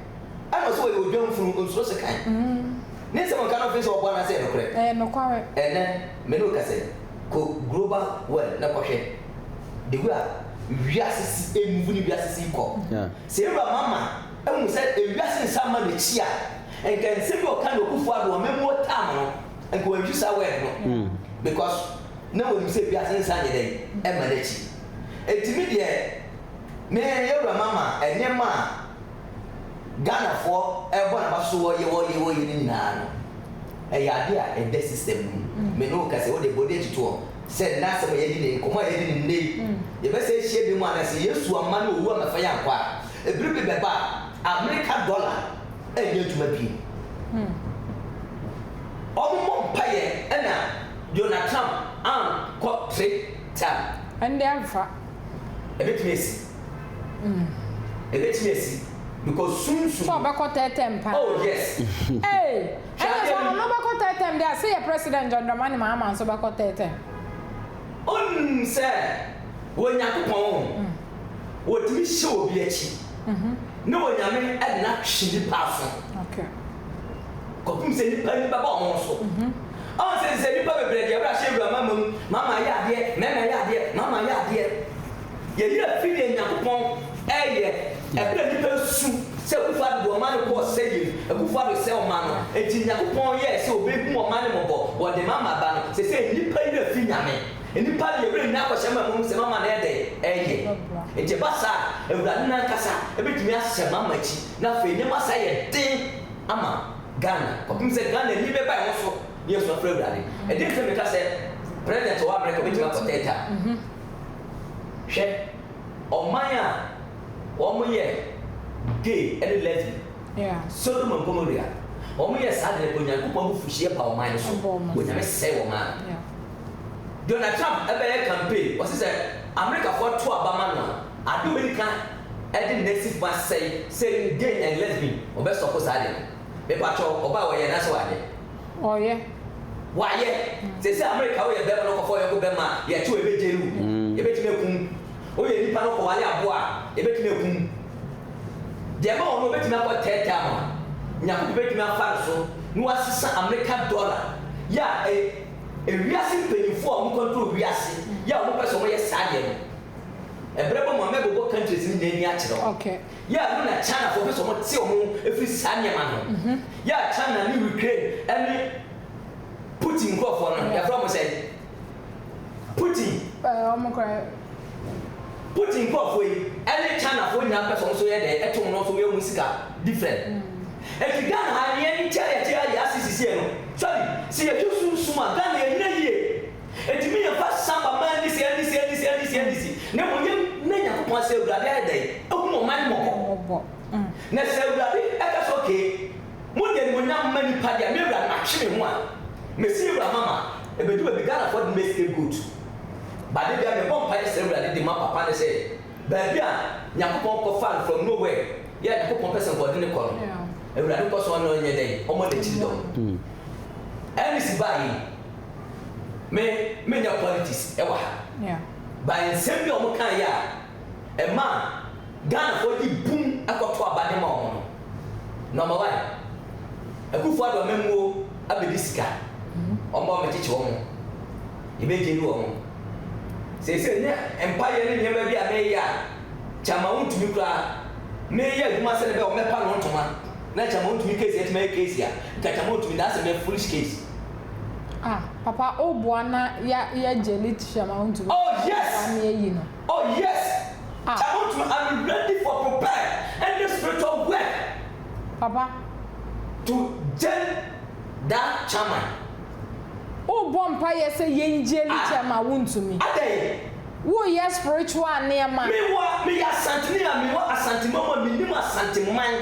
Ɛna ɔse ɔyɛ
odwanfunu, ɔnsuro sekan. Mm. Ne nsɛm a ɔka no, ɔfee sɛ ɔboa anaasɛ ɛyɛ nokorɛ? Ɛyɛ nokware. Ɛnnɛ,
me ne wo kasɛ,
kɔ Global Well na kɔhwɛ the way a wiase si emuvu ne wiase si kɔ. Yeah. Sɛ Ewura
Mama
ahu sɛ ewiase nsa mma n'akyi a, nka nsɛm bi a ɔka no Akufo-Addo amammuo term no, Nka wantu saa word no because na wɔnim sɛ wiase no nsan nyɛ dɛn ɛmma n'akyi. Enti me deɛ me yawura mama nneɛma a Ghanafoɔ ɛrebɔ n'aba so wɔyɛ wɔyɛ wɔyɛ no nyinaa no ɛyɛ adeɛ a ɛda system no mu. Me ne wo kasa yi wo deɛ bɔ w'ani atoto hɔ sɛ nnɛ asɛm a yɛadi no yi nkɔmmɔ a yɛadi no nnɛ yi yɛbɛsan ahyia bi mu anaa sɛ Yesu amma na owu ammɛfa yɛn ankɔ a ɛbiri bi bɛba a Amerika dollar ɛnyɛ adwuma bio. Wɔbɔ mpaeɛ ɛna Donald Trump ankɔ Twitter. Ɛnde amfa.
Ɛbɛtumi
asi. Ɛbɛtumi asi because sunsum. Sɛ ɔbɛkɔ third term
paa. Oh yes.
Ee,
ɛnna sɛ ɔno bɛkɔ third term deɛ a, sɛ yɛ President John Dramani Mahama nso bɛkɔ third term.
Ɔnnim sɛ, wɔ Nyankopɔn. wɔtumi hyɛ obi akyi ne onyame de no ahwe nnipa aso kɔpem sɛ nnipa ani bɛba wɔn ho so. Ɔn sɛ sɛ nnipa bebree deɛ ɛwura hyɛ awura mama mu, mama yɛ adeɛ, mɛma yɛ adeɛ, mama yɛ adeɛ. Yɛyɛ fi deɛ Nyankopɔn ɛyɛ ɛberɛ nnipa su sɛ Akufo Addo de ɔman no kɔɔ sɛeɛ mu, Akufo Addo sɛe ɔman no, enti Nyankopɔn yɛɛ sɛ ɔbɛhu ɔman no mmɔbɔ, ɔde mama ba no, sɛsɛ nnipa yɛ fi nyame. Nnipa de werɛ nnya bɔhyɛ ma mmom sɛ mama no ayɛ dɛn? Ɛyɛ. Enti ɛba saa a, Awurade no ankasa bɛtumi ahyɛ mama akyi na afei nneɛma asan ayɛ den ama Ghana kɔpem sɛ Ghana ani bɛba ɛho so na yɛasu afrɛ Awurade. Ɛdeɛn nti na meka sɛ President a ɔwɔ Amerika bɛtumi akɔ Theater? Hwɛ ɔman a wɔyɛ Gay ne Lesbian, Sodom
and
Gomorrah, wɔyɛ saa de na Onyankopɔn abufuhyeɛ ba ɔman no so, Onyame sɛe wɔn ara.
Donald
Trump bɛyɛ campaign ɔse sɛ Americafoɔ to aba ma no a ade ɔbɛdi kan de ne nan si fam asɛe sɛ gay and lesbian ɔbɛ sɔpo saa ade no mepakyɛw ɔba a ɔyɛ anaasɛ wayɛ? Ɔyɛ.
Wayɛ.
Sɛsɛ America woyɛ bɛma na ɔkɔfa ɔyɔnko bɛma a yɛte wo yɛbɛgyare wo yɛbɛtumi akum wo woyɛ nipa na ɔkɔware aboa a yɛbɛtumi akum wo deɛ ɛma ɔno ɔbɛtumi akɔ tɛɛtɛɛ ama wo Nyankopɔn bɛtumi afa no so na wasesa America dollar yɛ a ɛyɛ Ewiase mpanyimfo a wɔn control wiase yɛ a wɔn pɛ sɛ wɔn yɛ saa deɛ no ɛbrɛ bɔ mu a mɛbobɔ countries no nyinaa ani akyerɛ wo yɛ a ɛno na
China
fo pɛ sɛ wɔn te wɔn ho ɛfiri saa nneɛma no ho yɛ a China ne Ukraine ɛne Putin nkorɔfoɔ no yɛfrɛ wɔn sɛ Putin Putin nkorɔfoɔ yi ɛne China foɔ nyinaa pɛ sɛ wɔn nso yɛ dɛ ɛte wɔn ho so yɛ wɔn sika different. Efi Ghana ha nea ɛne nkyɛn a yɛte ha yɛ ase sesie no, sorry, sɛ yɛtu sunsum a, Ghana ɛnyina yie. Enti me yɛmfa Samba mma ɛnni sɛ ɛnni sɛ ɛnni sɛ ɛnni sɛ ɛnni si, na mmom yɛn mmrɛ Nyankopɔn ase sɛ Awurade ayɛ dɛn? Ahunu ɔman mmɔbɔ. Na sɛ Awurade ɛka sɛ okay, mo de animuonyam mma nnipa deɛ, me Awurade matwe me ho a, mɛsi Ewura Mama, ɛbɛdu baabi Ghanafoɔ de no bɛyɛ scapegoat. But da biara mebɔ mpaeɛ srɛ Awurade de ma papa no sɛ, Baabi a Nyankopɔn kɔ faa no from no where yɛ a Nyankopɔn pɛ sɛ nkoɔde no kɔ no Awurade kɔ so ne ɔnyɛ dɛn ɔmɔ nakyiri dɔm Eunice baa yi me me nyɛ politics ɛwɔ ha but
nsɛm bi
a ɔmɔ kaa yɛ a ɛma Ghana foɔ gye bum ɛkɔ to aba de ma ɔmɔ no Number one Akufo Addo amammuo abɛdi sika ɔmɔ ɔmɛkyekye ɔmɔ. yebegye no wɔ ho. Seesei ne mpaeyɛ ne nneɛma bi a meyɛ a kyɛ anka ontumi koraa. Mereyɛ adwuma sɛnea ɛbɛyɛ a wɔbɛpa no ntoma, na kyɛ anka ontumi case atumi ayɛ case a nka kyɛ anka ontumi that's a very foolish case. Ah
papa o boa na ya yɛ gye lit kyɛ anka ontumi Oh yes! boa na yɛayi
no. Oh
yes!
Ah. Kyɛ anka ontumi I'm ready for prepared any spiritual work. Papa.
To
gen that chairman.
Worebɔ mpaeɛ sɛ yɛngye ne kyɛm a wontumi. Adɛn? Woreyɛ spiritual nneɛma. Me wa, me yɛ Asanteni
a me wɔ Asanteman mu a me nim Asanteman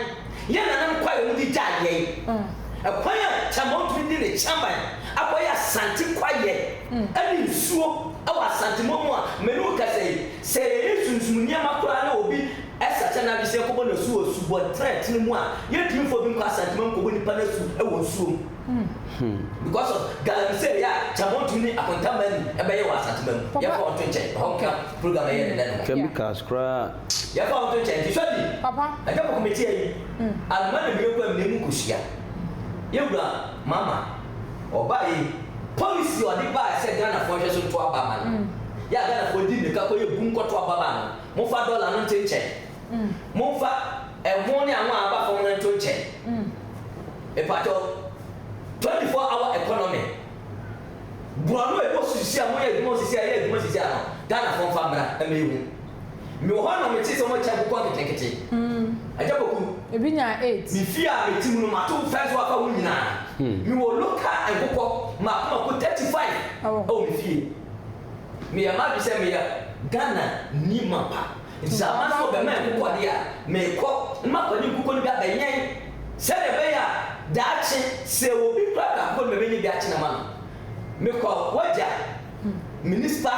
yɛ nanam kwae a wɔn de gyae yɛn. Ɛkwan a Kyɛmba ntumi de ne kyɛman akɔ yɛ Asante kwaeɛ ɛne nsuo ɛwɔ Asanteman mu a me ne wo kasa yi, sɛ yɛyɛ sunsum nneɛma koraa na obi ɛsakyɛ n'adwesɛ kɔbɔ n'asu wɔ subɔnten a ɛtene mu a, yɛntumi mfa obi nkɔ Asanteman nkɔbɔ nipa n'asu ɛwɔ nsuo mu. Hmm. Because of galamsey a Kyamontun ne akontamma ni ɛbɛyɛ wɔ Asantuma mu. Papa. Yɛmfa wɔn nto nkyɛn. Ɛhɔ nka program a ɛyɛ no nnɛ no ho. Chemicals koraa.
Yɛmfa wɔn nto nkyɛn. Nti
sɔ bi. Papa. Agya Kɔkɔ metie yi. Anoma na mire kɔ amena mu kosua. Yɛn wura Mama, ɔbaeɛ yi, policy a ɔde baeɛ sɛ Ghanafoɔ nhwɛ so nto aba mma no, yɛ a Ghanafoɔ di mmirika kɔyɛ bum kɔto aba maa no. Momfa dɔla no nto nkyɛn. Momfa ɛho ne ano a aba fam no nto nkyɛn. Mpakyɛw, 24 hour economy, borɔno a ɛkɔ so sisi a wɔyɛ adwuma sisi a ɛyɛ adwuma sisi a no, Ghanafoɔ mfa mmra mma yɛhu. Mewɔ hɔ a na mete sɛ wɔakyɛ nkokɔ nketenkete. Agya Poku. Ebi nyaa AIDS. Me
fie a
mete mu
no,
mato fɛns so afa ho nyinaa. Mewɔ local nkokɔ mmaako mmaako 35 wɔ me fie. Meyɛ m'adwene sɛ meyɛ Ghanani mapa. Enti sɛ amanfo bɛma me koko ade a, mekɔ, na mafa ne nkokɔ no bi abɛwɛn, sɛnea ɛbɛyɛ a daakye, sɛ obi kura akokɔ no, mebenya bi akyene ama no. Mekɔ w'agya, Minista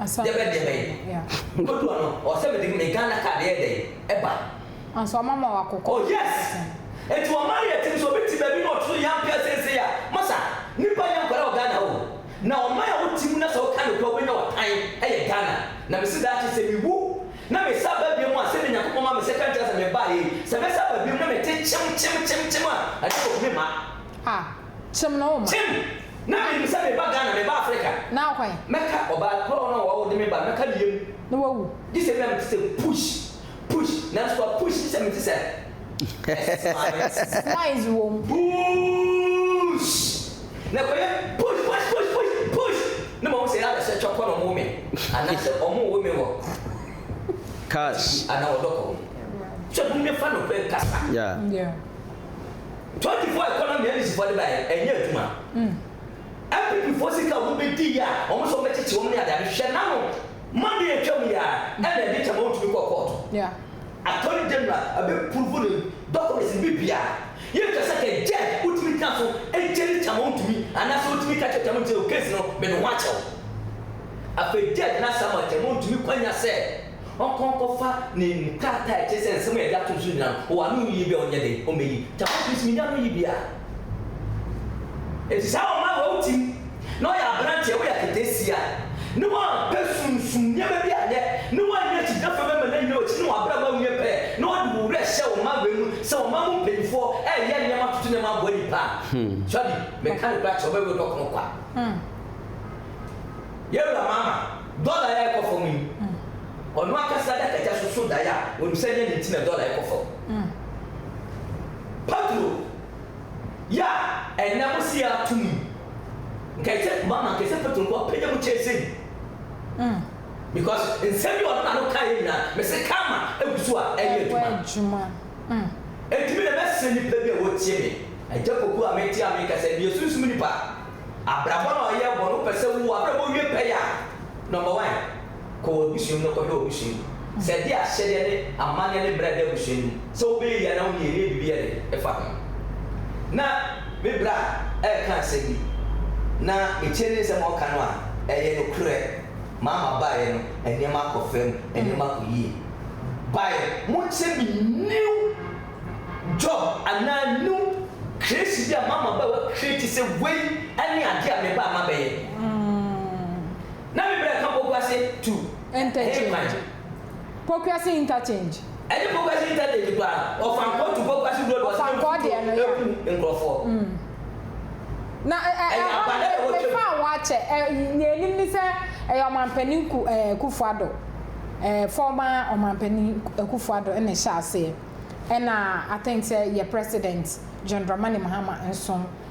Dɛbɛn-Dɛbɛn, nkodu ano, ɔwɔ sɛ mede me Ghana card yɛ dɛn? ba. Nanso ɔma ma
wo akokɔ. Oh, yes!
Enti wɔma no yɛ tim, sɛ obi te baabi na ɔto so yɛ ampea seesei a, masa, nnipa nyɛ nkwadaa wɔ Ghana o. Na ɔman a wote mu na sɛ woka nokwɛ a wobɛnya ɔtan yɛ Ghana. Na mese daakye sɛ mewu na mesan ba biom a, sɛdeɛ Nyankopɔn ma me second chance na mebaeɛ yi, sɛ mɛsan ba biom na mete kyem kyem kyem kyem a, ɛdeɛ wɔku me mma. Ah, kyem na woma.
Kyem! Na menim
sɛ meba Ghana, meba Africa. Na hwan? Mɛka
ɔbaa korɔ
no a ɔde me baeɛ, mɛka ne yam. Na wawu. Gye sɛ
ebia mete sɛ
push. Push nanso wa push hyɛ me ti sɛ Ɛsɛ
maame te. Noise wɔ mu. Puuuush
na kɔyɛ push push push push push na mahu sɛ yɛa bɛhyɛ twɔkɔ na ɔmo wo me anaasɛ ɔmo wo me wɔ Cars.
TV anaa wɔ dɔkɔ
ho. Sɛ hom nyɛ fa nokorɛ nkasa. Yeah. Yeah. 24 economy a English foɔ de baeɛ no ɛnyɛ adwuma. NPP foɔ sika a wɔn bɛ di yi a wɔn sɛ wɔn bɛ kyekye wɔn ne ade ade hwɛ n'ano Monday a ɛtwa mu yi ara ɛna ɛde kyɛ ma wɔtumi kɔɔ kɔɔto Attorney
General
abɛ prove ne documents ne biribiara yɛ ntwa sɛ kɛ judge wotumi gyina so gye ne kyɛ ma wontumi anaa sɛ wotumi ka kyerɛ kyɛ ma nti o case no mede ho akyɛ wo Afei judge no asa ama kyɛ ma ontumi kwa nya sɛ ɔnkɔ nkɔ fa ne nkrataa a ɛkyerɛ sɛ nsɛm a yɛde ato no so nyinaa no ɔwɔ ano yiye bi a ɔnyɛ den ɔmmɛ yi kyɛ ma ɔntumi so menya ano yi bi a. Nhyira wɔ ma wɔ wo ti mu na ɔyɛ aberanteɛ woyɛ aketesia ne wampɛ sunsum nneɛma bi anyɛ ne wanyɛ kyigyinafoɔ bi ama no anyina wakyi ne wabrabɔ awie pɛ na ɔde wo werɛ hyɛ wo mma wei mu sɛ ɔman mu mpanyinfoɔ ɛyɛ nneɛma toto nneɛma aboa nipa a sua bi meka no kora kyerɛ ɔbɛwe dɔ kono kwa yɛwura maama dɔla yɛ ɛkɔ fam yi ɔno akasa adakagya so so daeɛ a wɔnim sɛ nyɛ ne nti na dɔla ɛkɔ fam. Pedro ya ɛnɛ mo si a tum nkɛ sɛ ma ma nkɛ sɛ Pedro nko apɛ nya mu kyɛ sɛ yi because nsɛm bi ɔno na no ka yɛ nyinaa me se karma egu so a ɛyɛ adwuma enti me na mɛ srɛ nipa bi a wɔ tie me agya poku a me te a me ka sɛ deɛ sunsum nipa abrabɔ na ɔyɛ bɔ no wopɛ sɛ wo abrabɔ wie pɛ yɛ a number one kɔ wɔn abusua mu na kɔhwɛ wɔn abusua mu. Sɛ ɛde ahyɛdeɛ ne amanneɛ ne mmara da abusua no mu sɛ wobɛyɛ yie anaa wonyɛ yie ne biribi yɛ den ɛfa ho. Na me bra reka asɛm bi na metie ne nsɛm a ɔka no a, ɛyɛ nokorɛ. Maa mabaeɛ no, nneɛma akɔ fam, nneɛma akɔ yie. Bae, monkyɛ me new job anaa new creation bi a maa mabae wɔ create sɛ wei ne adeɛ a mebae mabɛyɛ. Na me brɛ ka Pokuase to Interchange.
Pokuase Interchange. Ɛnyɛ Pokuase
Interchange koraa, Ɔfankɔɔ to Pokuase Road wɔ Ɔsɛdɛ Nkutoo ɛku nkorɔfoɔ.
Na ɛ ɛ ɛhɔ no me me faa hɔ akyɛ ɛ nea ɛnim ne sɛ ɛyɛ Ɔmanpanin ku ɛ Akufo Addo ɛ former Ɔmanpanin Akufo Addo ɛna ɛhyɛ aseɛ ɛna I think sɛ yɛ President John Dramani Mahama nso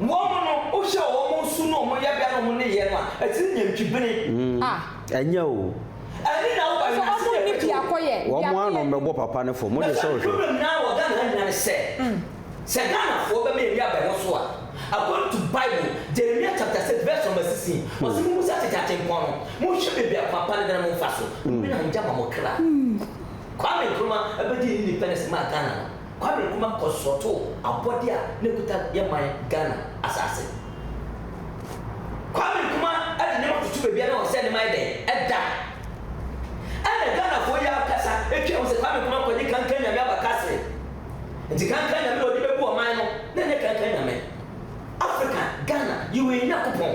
Wɔn no, wohwɛ wɔn su ne wɔn yɛbea ne wɔn nneyɛɛ no a, ɛte sɛ nyantwibene. Mm, ɛnyɛ o.
Ɛne na woba
wiase sɛ yɛ pɛtɛ o.
Wɔn ara na wɔbɛbɔ
papa no fam, wode sɛ wohwɛ. Na saa problem no ara wɔ Ghana ha
nyinaa ne sɛ, sɛ Ghanafoɔ bɛma yɛn nuabaa yi ho so a, according to Bible, Jeremia chapter six verse number sixteen, ɔse, Mommusa ateteatempɔn no, monhwɛ baabi a papa no da na momfa so, nnwene anngya ma mo kra. Kwame Nkrumah bɛdii ne independence maa Ghana no. Kwame Nkrumah kɔsrɔtoo abɔde a na ɛkuta yɛn man Ghana asase. Kwame Nkrumah de nneɛma toto baabi a na ɔsɛ nneɛma yɛ dɛn? Ɛda. Ɛna Ghanafoɔ yi ara kasa twa mu sɛ Kwame Nkrumah kɔgye Kankan Nyame aba Kasserine. Nti Kankan Nyame na ɔde bɛbu ɔman no na ɛnyɛ Kankan Nyame. Africa, Ghana, yɛwɔ yɛn Nyankopɔn.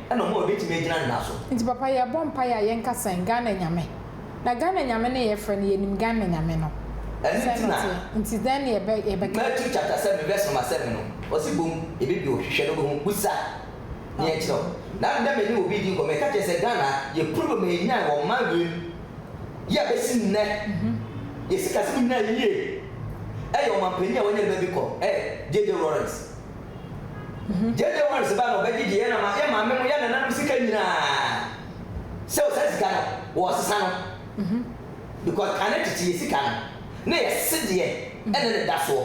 na ɔma wɔbɛtumi agyina ne nan so. Nti papa yɛbɔ mpaeɛ
a yɛnka sɛn Ghana Nyame? Na Ghana Nyame no yɛfrɛ no yɛnim Ghana Nyame no Ɛno sɛn nti na ɔteɛ nti dɛn na yɛbɛ yɛbɛka? Matthew chapter seven
verse number seven no ɔse bom yɛbɛbie hɔ hwehwɛ na wobɛhu busa na yɛnkyerɛ wo na ndɛ me ne obi di nkɔmɔ ɛka kyerɛ sɛ Ghana yɛ problem a yɛnyae wɔ mmaa wiem yi a bɛsi nnɛ yɛ sikasɛm nyinaa yie ɛyɛ ɔmanpanin a wanya ne ba bi kɔ ɛyɛ JJ Lawrence JJ Ɔma no sika na ɔbɛgye deɛ yɛn ama yɛn maame mo yɛn nananom sika nyinaa sɛ o saa sika no wɔ sesa no because kane tete yɛ sika no na yɛ se deɛ ɛna ne da soɔ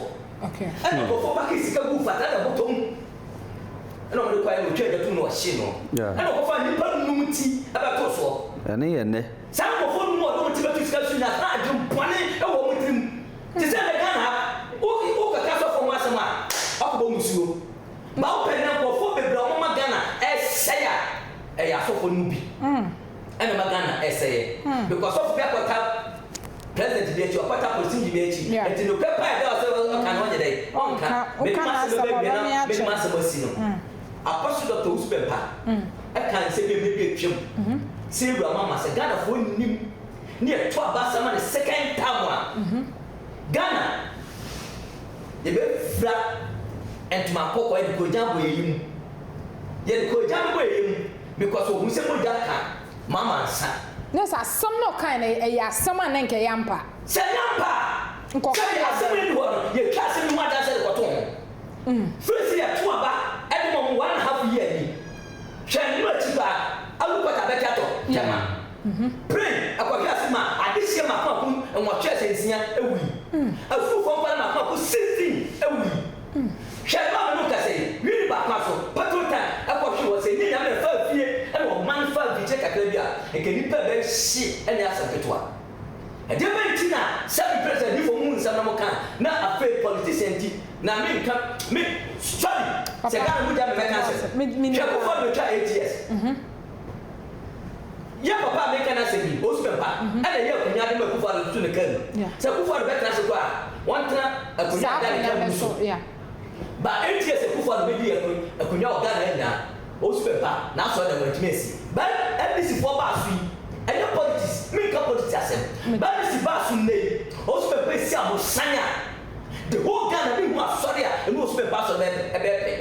ɛna ɔbɔfo
baki
sika gu fata na bɔtɔ mu ɛna ɔmo de kɔ ayɛ na ɔtwa ɛda tum na ɔhye no ɛna ɔbɔfo a nipa num ti ɛbɛto soɔ ɛne yɛ nɛ
saa ɔbɔfo num a ɔde
ɔmo ti bɛto sika so nyinaa saa adwen bɔne ɛwɔ ɔmo tirim. Te sɛ nnɛ Ghana ha, wo wokɛka sɔfoɔ ho asɛm a, wakɔbɔ mo nsuo. Ba wopɛ nnɛ nkurɔfoɔ bebree a wɔma Ghana ɛresɛe a, ɛyɛ asɔfoɔ no mu bi ɛna ɛma Ghana ɛresɛeɛ. Because sɔfo bi akɔta president bi akyi, wakɔta polisinyi bi akyi, nti nokorɛ paa a ɛda hɔ sɛ ɔka no, ɔnyɛ dɛn? Ɔnka. Mede m'asɛm no bɛwie na mede m'asɛm asi no. Apostle Doctor Owusu Bɛmpa ɛkaa nsɛm bi a mmerɛ bi atwam sɛ Awuraa Mama sɛ Ghanafoɔ nnim Nea ɛto abaasa ma ne second term a Ghana yɛbɛfira ntoma kɔkɔɔ yɛde kɔ gya boayɛyɛ mu. Yɛde kɔ gya no boayɛyɛ mu, mekɔ so ɔhunu sɛ mogya ka Mahama nsa. Kyerɛ sɛ asɛm no
ɔkaeɛ no ɛyɛ asɛm a na nka ɛyɛ ampa. Sɛ ɛnyɛ ampa
a, sɛdeɛ asɛm no nni hɔ no, yɛtwa asɛm yi ho adanseɛ de kɔto ho. Firi sɛ yɛto aba de ma wɔn one and half year ni, hwɛ nnora akyi paa, Alu Pɔtɔ abɛgye atɔ Tema. ho. Pren akɔhwɛ ase ma adehyeɛ mako ako nwɔtwe ahyɛ nsia awui. Afuru fam pare mako ako sixteen awui. Hwɛ ma me no nkasa yi, Wini ba kwan so, petrol tank ɛkɔ hwe wɔ sɛ nyɛ nyame ɛfa afie ɛna ɔman fa avikyɛ kakra bi a nka nipa ɛbɛ hye ɛnyɛ asɛm ketewa. Ɛdeɛ bɛn nti na sɛ me pere sɛ me fɔ mo mu nsɛm na mo ka a na afei politician nti na me nka me sorry sɛ Ghana mu gya me mɛka asɛm hwɛ kofo ado twa eight years. Yɛ papa a mereka no asɛm yi, Ousmane Pa, na ɛyɛ akonyade ma Akufo-Addo tutu ne kaa mu sɛ Akufo-Addo bɛtena ase kɔ a, wɔntena akonya a Ghana nyaa no mu so. Ba ɛnteɛ sɛ Akufo-Addo bɛdi akonya wɔ Ghana ha nyinaa, Ousmane Pa, n'asɔredɛm no antumi ansi. Ba NDC foɔ baa so yi, ɛnyɛ politics, menka politics asɛm, ba NDC baa so nnɛ yi, Ousmane Pa ɛsi abosan a, The whole Ghana bi hu asɔre a ɛno wɔ su bɛmfa asɔre bɛɛ pɛ ɛbɛɛ pɛ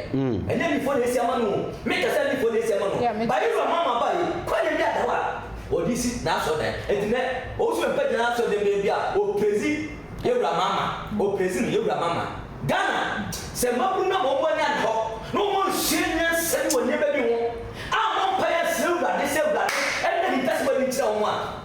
ɛnyɛ mifo na ɛsi ama no o me kasa mifo na ɛsi ama no ba yɛ wura mama ba yi kwane bi ada hɔ a ɔde si na asɔre dan ɛnti nɛ ɔwɔ su bɛmfa gyina asɔre dan bɛɛ bi a ɔprezi yɛ wura mama ɔprezi no yɛ wura mama Ghana sɛ mmabunu nam ɔmɔ ani ada hɔ na ɔmɔ nsua nyansa bi wɔ nneɛma bi ho a mɔ mpaeɛ srɛ awurade sɛ awurade ɛna ne ntɛsɛ bɔ ani nkyerɛ ɔmɔ a.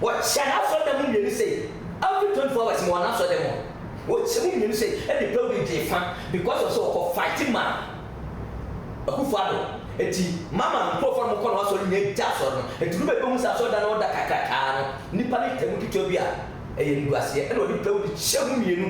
Wɔkyɛ n'asɔrdan mu mmienu sei every twenty four hours mewɔ n'asɔrdan mu a wɔkyɛ mu mmienu sei ɛde building gye fa because of sɛ ɔkɔ fight ma Akuffo Addo nti mama nkurɔfoɔ a wɔkɔ n'asɔre nyinaa gya asɔre no nti nobɛ bɛhu sɛ asɔrdan no ɔda kakrakaa no nnipa no tɛm ketewa bi a ɛyɛ animguaseɛ ɛna ɔde building kyɛ mu mmienu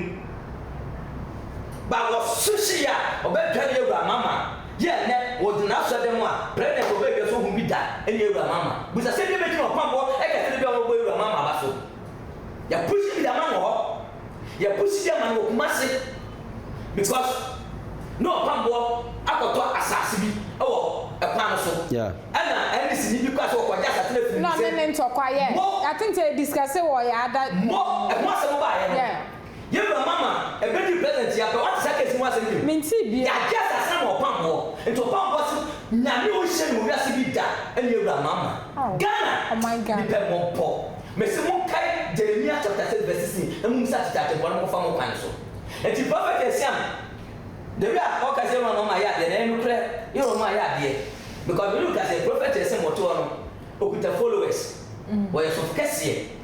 but wɔso hye yɛ a ɔbɛdwane awura mama Gye a nnɛ wɔdze n'asɔr dan mu a President Obey hwɛ so hu bi da nye Ewura Mahama busa sɛ ebia ebegyina ɔkwammɔ kɛse no do a wɔbɔbɔ Ewura Mahama aba so. Yɛpushi bi dɛ ama no wɔ hɔ. Yɛpushi bi ama no wɔ Kumasi because no ɔkwammɔ akɔtɔ asaase bi wɔ kwan no so. Nna NDC nyi bi kɔr a sɛ wɔkɔgye asaase
no efir no sɛ mo. Mo, mo, ho asɛm
baayɛ no. Yɛ bra mama ɛbɛduru present yi apɛ wate saa case yi ho asɛm bio? Mentee biaa. Yagye asase
ama
ɔpamboɔ nti ɔpamboɔ se Nyame ɔnhyɛ no wɔ wiase bi da ɛne yɛ wura mama. Aww Ghana ɔman Ghana. Nipɛ
mmɔbɔ.
Mese monkae Jeremia chapter six verse sixteen na mommisa akyekye atempɔn na monkɔfa mo kwan so. Nti prophet Asian the way a ɔka sɛ yɛ wura mama ayɛ adeɛ no ɛyɛ nokorɛ yɛ wura mama ayɛ adeɛ because me ne wo ka sɛ prophet Asian ɔte hɔ no ɔkuta followers ɔyɛ sɔfo kɛseɛ.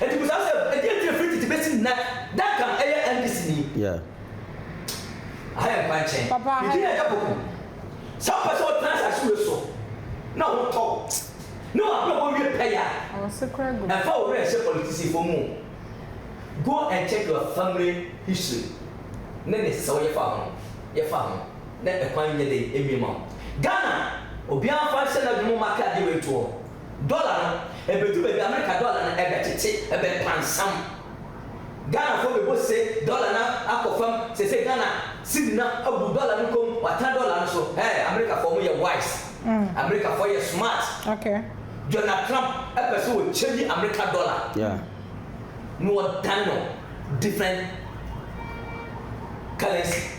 Enti bisa
wo sɛ,
ɛdeɛn nti na firi tete bɛsi nnɛ Duncan yɛ NDC ni? Yeah. Aha yɛ nkwankyɛn. Papa aha yɛ. Medin yɛ Dapoku. Sɛ wopɛ sɛ wotena asase wei so na wo ho tɔ wo, ne w'abrabɔ wie pɛyɛ a,
ɛmfa wo werɛ nhyɛ
politicifoɔ mu o. Go and check your family history ne ne sɛw yɛfa ho no, yɛfa ho na ɛkwan nyɛ dɛn mmie ma wo. Ghana, obiara mfa nhyɛ n'adwene mu mma aka adeɛ wei ntoɔ. Dɔla no ɛbɛdu baabi a Amerika dɔla no ɛbɛtete ɛbɛyɛ pansam. Ghanafoɔ bɛbɔ se dɔla no akɔ fam seisei Ghana siri no abu dɔla no kɔm watena dɔla no so ɛɛ Amerikafoɔ mo yɛ wise Amerikafoɔ yɛ smart
Donald Trump
ɛpɛ sɛ ɔ change Amerika dɔla
na
ɔdane no different currency.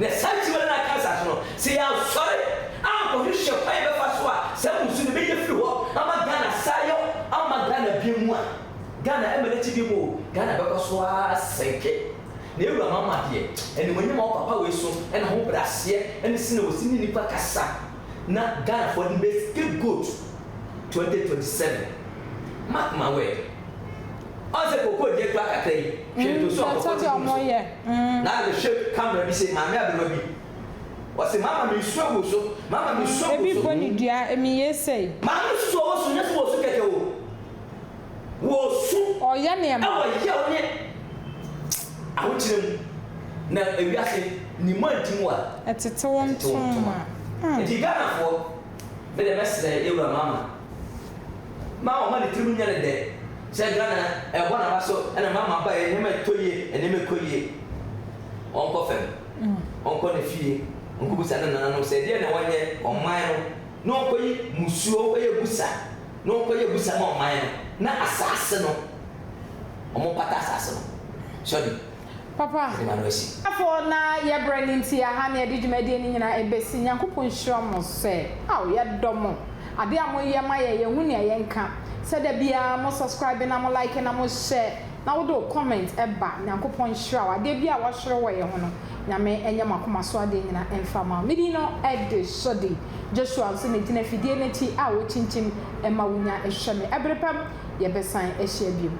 Na saa nti ma na aka asase no, sɛ yɛansɔre ankɔhwehwɛ kwan a yɛbɛfa so a saa mmusu no bɛnya firi hɔ ama Ghana asan ayɔ ama Ghana biom a, Ghana ɛmma n'akyi biom o, Ghana bɛkɔ so ara asɛe kɛ. Na Ewura Mahama deɛ, animuonyam a ɔpapa wei so na ahobrɛaseɛ ne sɛnea ɔsi ne nnipa kasa na Ghanafoɔ de bɛyɛ scapegoat 2027. Mark my word. Ɔn sɛ koko deɛ kura kakra yi, hwɛ ntoso a koko te gu
so. Na afei hwɛ
camera bi sei, maame aberewa bi, ɔse mama me nsuo gu so, mama me nsuo gu so. Ebi bɔ ne dua, emi
ye sei. Maame no susu ɔwɔ su, nyɛ
sɛ wɔ su kɛkɛ o, wɔ su wɔ yɛ wo
ne
ahokyerɛ mu, na ewiase nim a nti mu a ɛtete wo ntoma.
Nti Ghanafoɔ,
me deɛ mɛsrɛ yɛwura mama. Ma ɔmma ne tirim nyɛ no dɛ sɛ Ghana ɛbɔ naba so na ma maba yɛ nneɛma ɛtɔ yie nneɛma ɛkɔ yie ɔnkɔ fam ɔnkɔ ne fie ɔnkɔ busa ne nananom sɛ ɛdeɛ na wɔnyɛ ɔman no na ɔnkɔ yi musuo ɔnkɔ yɛ busa na ɔnkɔ yɛ busa ma ɔman no na asaase no ɔmo pata asaase no sɔde. Papa. Yɛde
ma no asi. Afoɔ na yɛ brɛ no nti aha na yɛde dwumadie no nyinaa ɛbɛsi Nyankopɔn nhyira mo sɛ ao yɛdɔ mo adeɛ a mo yɛ ma yɛn yɛn hu nea yɛn nka sɛ da biara mo subscribe na mo like na mo hyɛ na wo de wo comment ɛba Nyankopɔn nhyira wo adeɛ biara a w'asɔre wɔ yɛn ho no Nyame ɛnyɛ mo akoma so adeɛ nyina ɛmfa ma wo me din no ɛde Sɔdi Joshua nso na ɛgyina fidie no akyi a wo kyinkyim ɛma wo nya ɛhwɛ me ɛbere pam yɛbɛsan ahyia biom.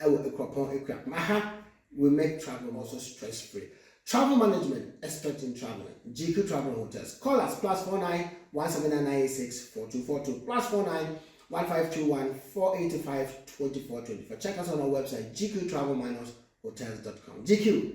ɛwɔ Akuapɔn Akua ma ha we make travelling also stress free travel management expert in travelling GQ travel and hotels call us plus four nine one seven nine nine eight six four two four two plus four nine one five two one four eight five twenty four twenty four check us on our website gqtravelmanushotels.com GQ